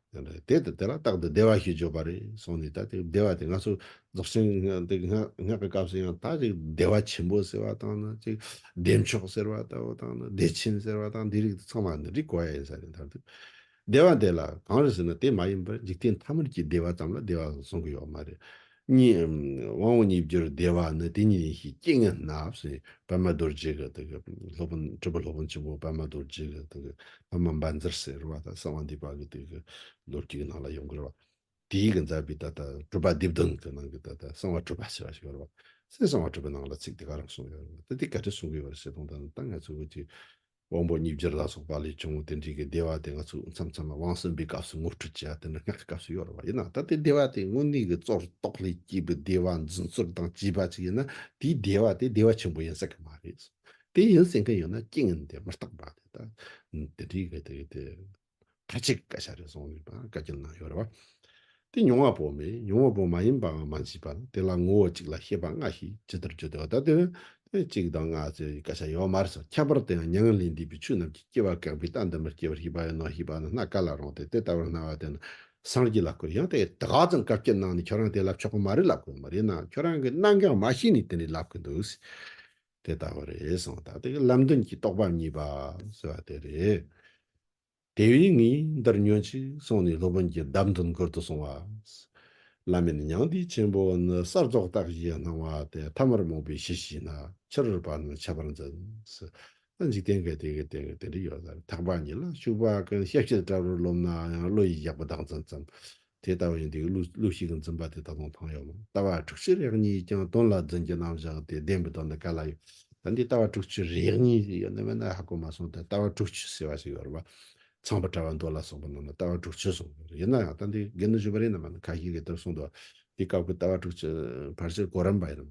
S1: དེ་ལྟ་དེ་ལ་རྟག་ཏུ་བདེ་བ་ཞེས་བརྗོད་པ་རེད་སོང་ནས་ད་དེ་བདེ་བ་དེ་ང་ཚོ་རྫོགས་ཆེན་འདི་སྔགས་ཀྱི་སྐབས་སུ་ཡང་ད་ཅིག་བདེ་བ་ཆེན་པོ་ཟེར་བ་དང་ན་ཅིག་བདེ་མཆོག་ཟེར་བ་ད་བོ་དང་ན་བདེ་ཆེན་ཟེར་བ་དང་འདི་རིགས་འདི་ཚང་མ་ནི་རིགས་གོ་ཡ་ཡིན་ས་རེད་མཐར་ཐུག་བདེ་བ་དེ་ལ་གང་རེད་ཟེར་ན་དེ་མ་ཡིན་པར་འཇིག་རྟེན་ཐ་མར་གྱི་བདེ་བ་ཙམ་ལ་བདེ་བ་ཟུང་གི་ཡོད་མ་རེད། གཉིས། དབང་བོ་གཉིས་བསྒྱུར་བདེ་བ་ནི་དེ་ཉིད་ཡིན་ཞེས་སྐྱེས་ངན་སྣབས་སེ་པདྨ་རྡོ་རྗེ་གི་དེ་གི་སློབ་དཔོན་དྲིལ་བུ་སློབ་དཔོན་ཆེན་པོ་པདྨ་རྡོ་རྗེ་གི་དེ་གི་པདྨ་འབར་མཛད་ཟེར་བ་ད་གསང་བ་འདུས་པ་གི་དེ་གི་ལོ་རྒྱུས་ནང་ལ་ཡོང་གི་རེད་བ། དེའི་གི་མཛད་པའི་ད་ལྟ་གྲུབ་པ་སྡེ་བདུན་གི་ནང་གི་ད་ལྟ་གསང་བ་གྲུབ་པ་ཞེས་བ་ཞིག་ཡོད་རེད་བ། སའི་གསང་བ་གྲུབ་པའི་ནང་ལ་ཚིག་དེ་ག་རང་གསུངས་ཡོད་རེད་བ། ད་དེ་ག་དུས་གསུངས་གི་ཡོད་རེད་ཟེར་དོན་ད་ད་ང་ཚོས་བོད་ཀྱི་དབང་པོ་གཉིས་སྦྱར་ལ་སོགས་པ་ལས་བྱུང་བའི་དེ་འབྲིང་གི་བདེ་བ་དེ་ང་ཚོས་མཚམས་མཚམས་ལ་དབང་གསུམ་པའི་སྐབས་སུ་ངོ་སྤྲོད་བྱེད་ཡ་དེ་འདྲ་སྔགས་ཀྱི་སྐབས་སུ་ཡོད་རེད་བ་ཡིན་ན་ད་ལྟའི་བདེ་བ་དེ་དངོས་གནས་ཀྱི་གཙོར་རྟོགས་ལས་སྐྱེས་པའི་བདེ་བ་འཛིན་ཚོར་དང་བཅས་པ་ཅིག་ཡིན་ན་དེའི་བདེ་བ་དེ་བདེ་བ་ཆེན་པོ་ཡིན་སྲིད་ཀྱི་མ་རེད། དེ་ཡིན་སྲིད་མཁན་ཡོད་ན་རྐྱེན་ངན་དེ་མི་རྟག་པ་དེ་དེ་འདྲའི་གི་དེ། ཁ་ཅིག་བཀའ་ཤག་རེ་ཟུང་ནས་བཀའ་བསྐྱིལ་གནང་ཡོད་རེད། དེ་མྱོང་བ་པོ་མེད་མྱོང་བ་པོ་མ་ཡིན་པའང་མ་མཆིས་པར་དེ་ལ་ངོ་བོ་གཅིག་ལ་ཤེས་པ་མངའ་ཞེས་ཇི་ལྟར་བརྗོད་དེ་བ་ད་དེ་གཅིག་དང་ལྔ་ཚོས་བཀའ་ཤག་ཡོད་མ་རེད་ཟེར་ཁྱད་པར་དེའང་མྱ་ངན་ལས་འདས་པའི་ཆོས་རྣམས་ཀྱི་སྐྱེ་བ་བཀག་པའི་རྟགས་འདི་མི་སྐྱེ་བར་ཤེས་པ་ཡིན་ནོ་ཞེས་པ་ནི་སྣ་ག་ལ་རུང་སྟེ་དེ་ལྟ་བུར་སྣང་བ་དེ་ནི་སངས་རྒྱས་ལ་བསྐུར་ཡང་དེ་དགའ་ཙམ་བཀའ་བསྐྱིལ་གནང་ནས་ཁྱོད་རང་དེ་ལབ་ཆོག་གི་མ་རེད་ལབ་དགོས་ཀྱི་མ་རེད་ནའང་ཁྱོད་རང་གིས་གནང་གི་མ་ཤེས་ནས་དེ་འདྲའི་ལབ་གི་འདུག། དེ་ལྟ་བུ་རེད་གསུངས་པ་དག་དེ་གི་བསླབ་མདུན་གྱི་རྟོགས་པ་གཉིས་པ་ཟེར་བ་དེ་རེད། དེ་བས་ངས་འདིར་ཉོན་ཅིག་གསུངས་ནས་སློབ་དཔོན་གྱིས་བདག་མདུན་བསྐུར་དུ་གསུང་བ། བླ་མེད་མྱང་འདས་ཆེན་པོ་ནི་གསར་རྫོགས་རྟགས་བཞིའི་སྣང་བ་དེ་ཐ་མར་རྨོངས་པའི་གཞི་ཞིག་ན་ཕྱིར་བ་རྣམས་ཁྱབ་པར་འཛིན། ད་འཇིག་རྟེན་འགའི་དེ་གི་དེ་གི་དེ་འདྲ་ཡོད་ས་རེད་ཐག་པ་ཉིད་ལ་ཞུགས་པ་ཀུན་ཤེས་བྱེད་ལྟ་བུར་རློམ་ནའང་བློ་ཡིས་བཞག་པ་བདག་འཛིན་ཙམ་དེ་ལྟ་བས་འདི་ཀླུ་ཞིག་གི་འཛིན་པ་དེ་ད་དུང་ཐང་ཡོད་ལགས་ལྟ་བ་དྲུག་ཅུ་རེག་གཉིས་ཡིས་ཀྱང་དོན་ལ་འཛིན་གྱི་རྣམ་བཞག་དེ་བདེན་པའི་དོན་དུ་ག་ལ་ཡོད་ད་འདི་ལྟ་བ་དྲུག་ཅུ་རེག་གཉིས་ཡོད་ནི་མེད་ན་ཧ་གོ་མ་སོང་ད་ལྟ་བ་དྲུག་ཅུ་ཟེར་བ་ཞིག་ཡོད་རེད་པ་ཚངས་པ་བཀྲ་བ་མདོ་ལ་སོགས་པ་རྣམས་ལ་ལྟ་བ་དྲུག་ཅུ་གསུངས་ཡོད་རེད་ཡིན་ན་ཡང་ད་འདི་དགེ་འདུན་ཆོས་པ་རིན་ནམ་མ་ནི་གང་ཞིག་གིས་དེར་གསུངས་འདུག་བ་འདི་སྐབས་ཀྱི་ལྟ་བ་དྲུག་ཅུ་བར་ཆད་གོ་རིམ་པ་ཡིན་ནམ།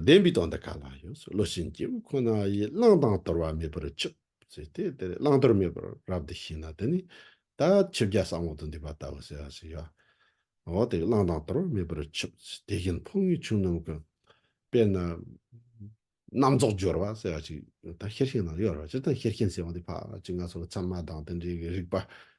S1: བདེན་པའི་དོན་འདི་ག་ལ་ཡོད་བློ་བྱིན་སྐྱེ་བོ་ཁོ་ན་ཡིས་བླང་དང་དོར་བ་མེད་པར་ཆུབ་ཟེར་ཏེ་དེར་བླང་དོར་མེད་པར་རབ་ཏུ་ཤེས་ན་དེ་ནི་ད་ཆོས་བརྒྱ་ཟ་འོག་ཏུ་འདུས་པ་ལྟ་བུ་ཟེར་བ་ཞིག་ཡོད། འོ་དེ་བླང་དང་དོར་བ་མེད་པར་ཆུབ་ཟེར་དེ་བཞིན་ཕུང་བའི་ཆོས་རྣམས་ཀྱི་དཔེར་ན་རྣམ་རྫོགས་སྦྱོར་བ་ཟེར་བ་ཞིག་ད་ཤེར་ཕྱིན་ནང་ཡོད་རེད་བ་ཇི་ལྟར་ཤེར་ཕྱིན་ཟེར་བ་འདི་ཕ་ཅིང་ང་སོགས་ཀྱི་ཚད་མ་དང་དེ་འདྲའི་རིགས་པ་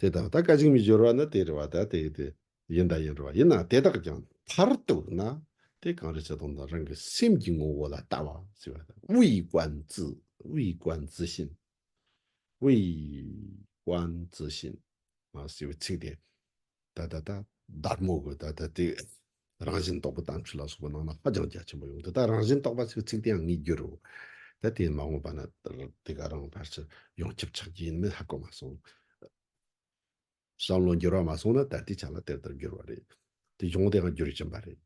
S1: དེ་དག་ད་ག་ཅིག་མི་སྦྱོར་བ་ནི་དེ་རེ་བ་ད་དེ་དེ་ཡིན་ད་ཡིན་རེ་བ་ཡིན་ན་དེ་དག་ཀྱང་མཐར་གཏུགས་ན་དེ་གང་རེ་ཆགས་སྡང་དང་རང་གི་སེམས་ཀྱི་ངོ་བོ་ལ་ལྟ་བ་ཞེས་པ་དང་དབུས་དབང་རྫི་དབུས་དབང་རྫི་བཞིན་དབུས་དབང་རྫི་བཞིན་ཞེས་པའི་ཚིག་དེ་ད་ད་ད་བདག་མོ་གི་ད་ད་དེ། རང་བཞིན་རྟོགས་པ་དམ་ཆོས་ལ་སོགས་པ་རྣམས་ལ་ཧ་ཅང་རྒྱ་ཆེན་པོ་ཡོང་འདི་དག་རང་བཞིན་རྟོགས་པ་ཚིག་ཚིག་དེའང་ངེས་འགྱུར་རོ། ད་དེ་མ་འོངས་པ་ན་དེ་ག་རང་བར་ཆུ་ཡོངས་ཁྱབ་ཆགས་ཀྱི་ཡིན་མེད་ཧ་གོ་མ་སོང། བསམ་བློ་འགྱུར་བ་མ་སོང་ན་ད་ལྟའི་ཆ་ལ་དེ་ལྟར་འགྱུར་བ་རེད། དེ་བྱུང་དེའང་རྒྱུ་རྐྱེན་པ་རེད།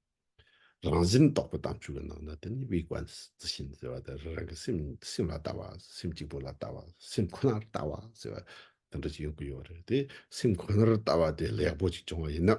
S1: རང་བཞིན་རྟོགས་པ་དམ་ཆོས་ཀྱི་ནང་ན་དེ་ནི་དབྱིག་པ་རྩི་ཤིང་ཟེར་བ་དེ་རང་རང་གི་སེམས་སེམས་ལ་ལྟ་བ་སེམས་གཅིག་པུ་ལ་ལྟ་བ་སེམས་ཁོ་ནར་ལྟ་བ་ཟེར་བ་དེ་འདྲ་ཞིག་ཡོང་གི་ཡོད་རེད་དེ་སེམས་ཁོ་ནར་ལྟ་བ་དེ་ལེགས་པོ་ཞིག་བྱུང་བ་ཡིན་ན།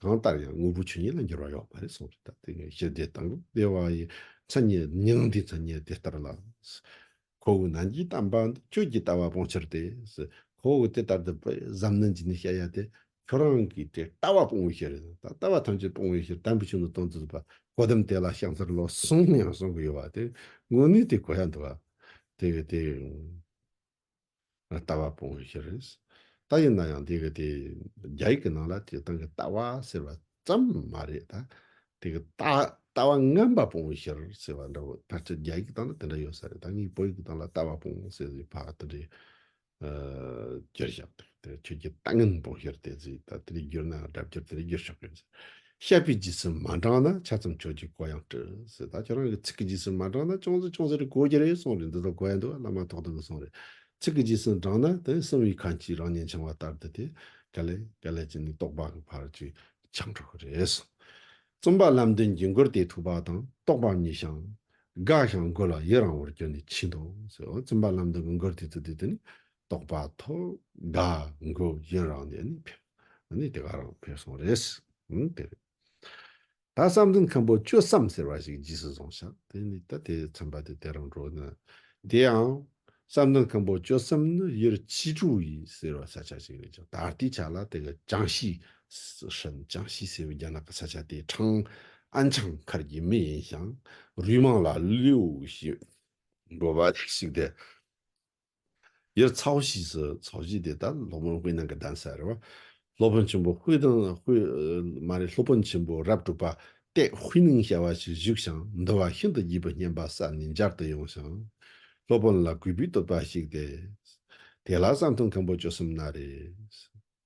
S1: གང་ལྟར་ཡང་དངོས་པོ་ཆོས་ཉིད་ལ་འགྱུར་བ་ཡོད་པ་རེད་གསུངས་རེད་ད་དེ་ནས་ཞི་བདེ་དང་བདེ་བ་ཡི་མཚན་ཉིད་མྱང་འདས་མཚན་ཉིད་དེ་ལྟར་ལ། ཁོ་བོའི་ནང་གི་གཏམ་པ་འདི་ཁྱོད་ཀྱིས་ལྟ་བ་སྤོང་ཕྱིར་ཏེ། ཁོ་བོ་དེ་ལྟར་དུ་གཟབ་ནན་གྱིས་ནི་བཤད་ཡ་དེ་ཁྱོད་རང་གིས་དེ་ལྟ་བ་སྤོང་བའི་ཕྱིར་ད་ལྟ་བ་ཐམས་ཅད་སྤོང་བའི་ཕྱིར་དམ་པའི་ཆོས་འདི་དོན་དུ་བཟོད་པ་གོ་དམ་དེ་ལ་ཤངས་ཚར་ལོ་གསུམ་ཡང་གསུང་གི་ཡོད་པ་དེ་དངོས་གནས་དེ་གོ་ཡ་འདུག་བ་དེ་བས་དེ། ལྟ་བ་སྤོང་བའི་ཕྱིར་རེད། ད་ཡིན་ན་ཡང་དེ་གི་དེ་རྒྱ་ཡིག་གི་ནང་ལ་དེ་གི་སྟངས་ཀི་ལྟ་བ་ཟེར་བ་ཙམ་མ་རེད་ད། དེ་གི་ལྟ་ལྟ་བ་རྔན་པ་སྤོང་བའི་ཕྱིར་ཟེར་བ་འདྲ་བོ་ཕར་ཆེར་རྒྱ་ཡིག་གི་སྟངས་ལ་དེ་འདྲ་ཡོད་ས་རེད་ད་ངའི་བོད་ཡིག་གི་སྟངས་ལ་ལྟ་བ་སྤོང་ཟེར་བའི་བར་དེ་འདྲའི་རྒྱུར་བཞག་དེ་ཁྱོད་ཀྱི་ལྟ་རྔན་སྤོང་ཕྱིར་དེ་ཟིག་ད་དེ་འདྲའི་རྒྱུར་ན་སྒྲ་བསྒྱུར་དེ་འདྲའི་རྒྱུར་ཆགས་ཀི་ཡོད་ཟེར། བཤད་པའི་རྗེས་སུ་མ་འབྲངས་ན་ཆ་ཙམ་ཆོས་ཀྱི་གོ་ཡང་བྲིས་ཟེར་ད་ཁྱོད་རང་གི་ཚིག་གི་རྗེས་སུ་མ་འབྲངས་ན་ཅུང་ཟད་ཅུང་ཟད་རེ་གོ་གི་རེད་གསུངས་རེད་འདི་དག་གོ་ཡ་འདུག་བླ་མ་ཐོག་ཏུ་མི་སོང་རེད་ཚིག་གི་རྗེས་སུ་འབྲངས་ན་དེ་གསུམ་གྱི་ཁ་འཁྱིལ་རང་ཉིད་འཆང་བ་ལྟར་དུ་དེ་ག་ལས་ག་ལས་ཀྱི་ནི་རྟོགས་པ་གི་བར་གྱི་འཆང་འགྲོ་གི་རེད་གསུངས། རྩོམ་པ་ལམ་སྟོན་གྱི་མགུར་དེའི་ཐུགས་དཔག་དང་རྟོགས་པ་གཉིས་ཤང། དགག་ཞང་དགོས་ལ་ཡི་རང་བོར་གྱུར་ནས་ཕྱིན་ཏོ་ཟེར་བ་རྩོམ་པ་ལམ་སྟོན་གྱི་མགུར་དེ་ཚུལ་དེ་དུ་ནི་རྟོགས་པ་ཐོག་དགའ་མགུ་ཡིན་རང་ནས་ནི་ཕེབས་ནི་དེ་ག་རང་ཕེབས་སོང་རེད། ཨང་དེ་རེད། ད་བསམ་ཚུལ་མཁན་པོ་བཅུ་བསམ་ཟེར་བ་ཞིག་རྗེས་སུ་བཟུང་ཤག་དེ་ནི་ད་དེ་ཚན་པ་དེ་དེ་རང་འགྲོ་ནི། དེ་ཡང། བསམ་ཚུལ་མཁན་པོ་བཅུ་བསམ་ནི་ཡུལ་ཕྱི་དྲུག་ཡིན་ཟེར་བ་ས་ཆ་ཞིག་རེད་ཀྱང་ད་ལྟའི་ཆ་ལ་དེ་ག་ཅང་ཤིས། ཧྲན་ཅང་ཤིས་ཟེར་བའི་རྒྱ་ནག་གི་ས་ཆ་དེ་ཁྲང་ཨན་ཆང་མཁར་གྱི་མི་ཡིན་ཞིང་རུས་མང་ལ་ལུས་ཞིག་འགྲོ་བ་ཞིག་དེ་ཡར་ཚ་བོ་ཕྱིས་སུ་ཚོགས་བཞི་དེ་དག་སློབ་དཔོན་དབུས་ནང་གི་གདན་སར་རེ་བ། སློབ་དཔོན་ཆེན་པོ་དབུས་དང་མ་རེ་སློབ་དཔོན་ཆེན་པོ་རབ་སྤྲུགས་པ་སྟེ་དབུས་ནང་བྱ་བ་ཞིག་བཞུགས་ཤིང་འདུལ་བ་ཤིན་ཏུ་བགྱིས་པའི་སྙན་པ་སར་ནས་འབྱར་དུ་ཡོང་ཞིང། སློབ་དཔོན་ལ་གུས་པས་བསྟོད་པ་ཞིག་སྟེ། དེ་ལ་བསང་ཐུན་མཁན་པོ་བཅུ་གསུམ་ན་རེ།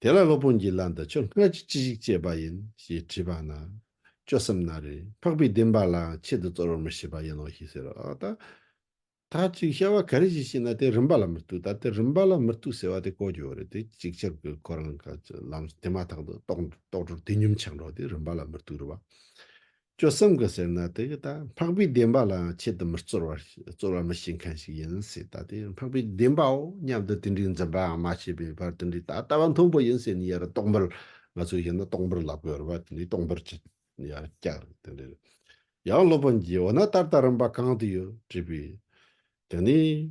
S1: དེ་ལ་སློབ་དཔོན་གྱིས་བླ་འདི་ཁྱོད་སྔར་གྱི་ཅི་ཞིག་སྤྱད་པ་ཡིན་ཞེས་དྲིས་པ་ན། སྐྱོ་བསམ་ན་རེ། འཕགས་པའི་བདེན་པ་ལའང་ཆེད་དུ་རྩོལ་བར་མི་བྱེད་པ་ཡིན་ནོ་ཞེས་ཟེར་རོ། ད་ཐག་ཅིག་བྱ་བ་ག་རེ་བྱེད་ཅེ་ན་དེ་རིམ་པ་ལ་མི་གཏུག་ད་དེ་རིམ་པ་ལ་མི་གཏུག་ཟེར་བ་དེ་གོ་ཀྱོག་རེད་དེ་ཅིག་ཆར་གྱི་ཁོ་རང་གི་ལམ་དེ་མ་ཐག་ཏུ་རྟོགས་འགྲོར་དེ་ཉོན་ཆག་འགྲོ་སྟེ་རིམ་པ་ལ་མི་གཏུག་རུ་བ། སྐྱོ་བསམ་གྱི་ཟེར་ན་དེ་གི་ད་འཕགས་པའི་བདེན་པ་ལའང་ཆེད་དུ་མི་རྩོལ་བར་རྩོལ་བ་མི་བྱེད་མཁན་ཞིག་ཡིན་སྲིད་ད་དེ་འཕགས་པའི་བདེན་པའོ་སྙམ་དུ་དེ་འདྲའི་འཛིན་པའང་མ་བྱས་པའི་བར་དེ་འདྲའི་ད་ལྟ་བ་མཐོན་པོ་ཡིན་ཟེར་ནས་ཡར་རྟོག་འབུར་ང་ཚོས་ཡིན་ན་རྟོག་འབུར་ལག་པས་དབུར་བ་དེ་འདྲའི་རྟོག་འབུར་གྱི་ཡར་བཀྱག་རེད་དེ་འདྲའི་ཡང་སློབ་དཔོན་གྱིས་འོ་ན་ད་ལྟ་རིམ་པ་གང་དུ་ཡོད་དྲིས་པས། དེ་ནས།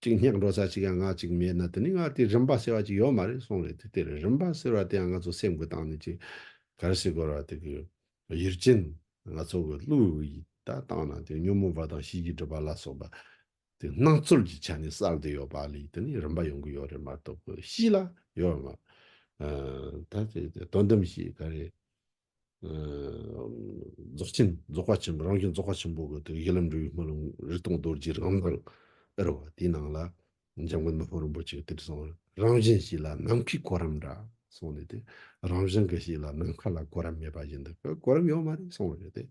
S1: གཅིག་སྙེག་འགྲོ་ས་ཅིག་ཡང་ངག་ཅིག་མེད་ན་དེ་ནི་ངག་དེའི་རིམ་པ་ཟེར་བ་ཅིག་ཡོད་མ་རེད་སོང་རེད་དེ་དེར་རིམ་པ་ཟེར་བ་དེ་ཡང་ང་ཚོ་སེམས་གོས་བཏང་ནས་ཅིག་གར་སི་གོར་བ་དེ་གི་ཡུལ་ཅན་ང་ཚོ་གི་ཀླུ་ཡི་ད་བཏང་ན་དེ་ཉོན་མོངས་པ་དང་ཤེས་ཀྱི་སྒྲིབ་པ་ལ་སོགས་པ་དེ་སྣང་ཚུལ་གྱི་ཆ་ནས་གསལ་དེ་ཡོད་པ་ལས་དེ་ནི་རིམ་པ་ཡོང་གི་ཡོད་རེད་མ་གཏོགས་གི་གཤིས་ལ་ཡོད་མ་ད་དོན་དམ་ཞིག་ག་རེ། རྫོགས་ཆེན་རྫོགས་པ་ཆེན་པོ་རང་བྱུང་རྫོགས་པ་ཆེན་པོ་གི་གཞི་ལམ་འབྲས་བུའི་སྨོན་ལམ་རིག་སྟོང་རྡོ་རྗེའི་རང་མདངས་དཔེར་བ་དེའི་ནང་ལ་འཇམ་མགོན་དམར་པོ་རིན་པོ་ཆེ་གི་དྲི་བཟང་རང་བཞིན་ཞིག་ལ་ནམ་མཁའི་གོ་རིམ་འདྲ་གསུངས་ནས་དེ་རང་བཞིན་གྱི་ཞིག་ལ་ནམ་མཁའ་ལ་གོ་རིམ་མེད་པ་བཞིན་དུ་གོ་རིམ་ཡོད་མ་རེད་གསུངས་པ་རེད་དེ།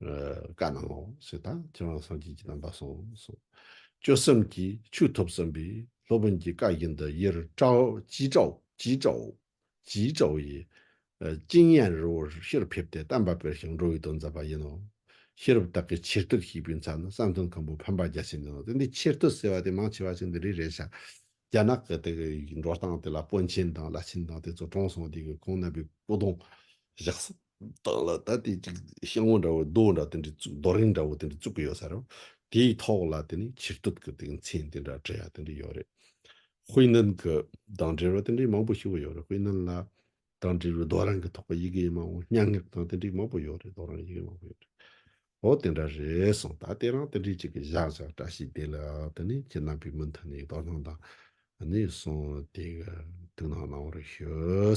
S1: བཀའ་གནང་ངོ་ཞེས་དང་ཁྱེད་རང་སངས་རྒྱས་ཀྱི་རྣམ་པ་སོང་གསུངས། སྐྱོ་བསམ་གྱིས་ཆུ་ཐོབ་བསམ་པས་སློབ་དཔོན་གྱིས་བཀའ་བཞིན་དུ་ཡེར་ཀྲའོ་ཇི་ཀྲའོ་ཇི་ཀྲའོ་ཇི་ཀྲའོ་ཡི། ཅིང་ཡན་རི་བོར་ཕྱིར་ཕེབས་ཏེ་གཏམ་པ་དཔེར་ཞིང་འགྲོ་བའི་དོན་མཛད་པ་ཡིན་ནོ། ཤེས་རབ་དག་གིས་ཆེར་ཐུགས་ཞིག་པའི་མཚན་ནི་བསམ་དོན་མཁན་པོ་འཕེན་པ་རྒྱ་ཆེན་ནོ་སྟེ་འདི་ཆེར་ཐུགས་ཟེར་བ་དེ་མང་ཆེ་བ་ཞིག་འདི་རིགས་རེད་བྱ། རྒྱ་ནག་གི་དེ་གི་འགྲོ་སྟངས་དེ་ལ་དཔོན་ཆེན་དང་བླ་ཆེན་དང་དེ་ཚོ་གྲོངས་སོང་དེ་གི་ཁོང་རྣམ་པའི་སྐུ་གདུང་བཞག་སོང། བདག་ལ་ད་དེ་ཅིག་ཤེལ་ངོ་འདྲ་བོ་རྡོ་འདྲ་དེ་འདྲ་རྡོ་རིང་འདྲ་བོ་དེ་འདྲ་བཙུགས་ཀྱི་ཡོད་ས་རེད། དེའི་ཐོག་ལ་དེ་ནི་ཕྱིར་སྡོད་ཀྱི་དེ་མཚན་དེ་འདྲ་སྤྲོད་ཡ་དེ་འདྲ་ཡོད་རེད། ཧུའེ་ནན་གྱི་དང་འབྲེལ་བ་དེ་འདྲའི་མང་པོ་ཞིག་ཡོད་རེད་ཧུའེ་ནན་ལ་དང་འབྲེལ་བའི་རྡོ་རིང་གི་ཐོག་ཡི་གེ་མང་བོ་སྙན་ངག་དང་དེ་འདྲའི་མང་པོ་ཡོད་རེད་རྡོ་རིང་ཡི་གེ་མང་པོ་ཡོད་རེད། ཨོ་དེ་འདྲ་རེད་གསུངས་ད་དེ་རང་དེ་འདྲའི་ཅིག་གི་བཞག་བཞག་བཀྲ་ཤིས་བདེ་ལེགས་དེ་ནི་ཁྱེད་རྣམ་པའི་མུ་མཐུད་ནས་དོ་སྣང་དང་ནས་སོང་དེ་ག་ཐུགས་སྣང་གནང་བར་ཞུ།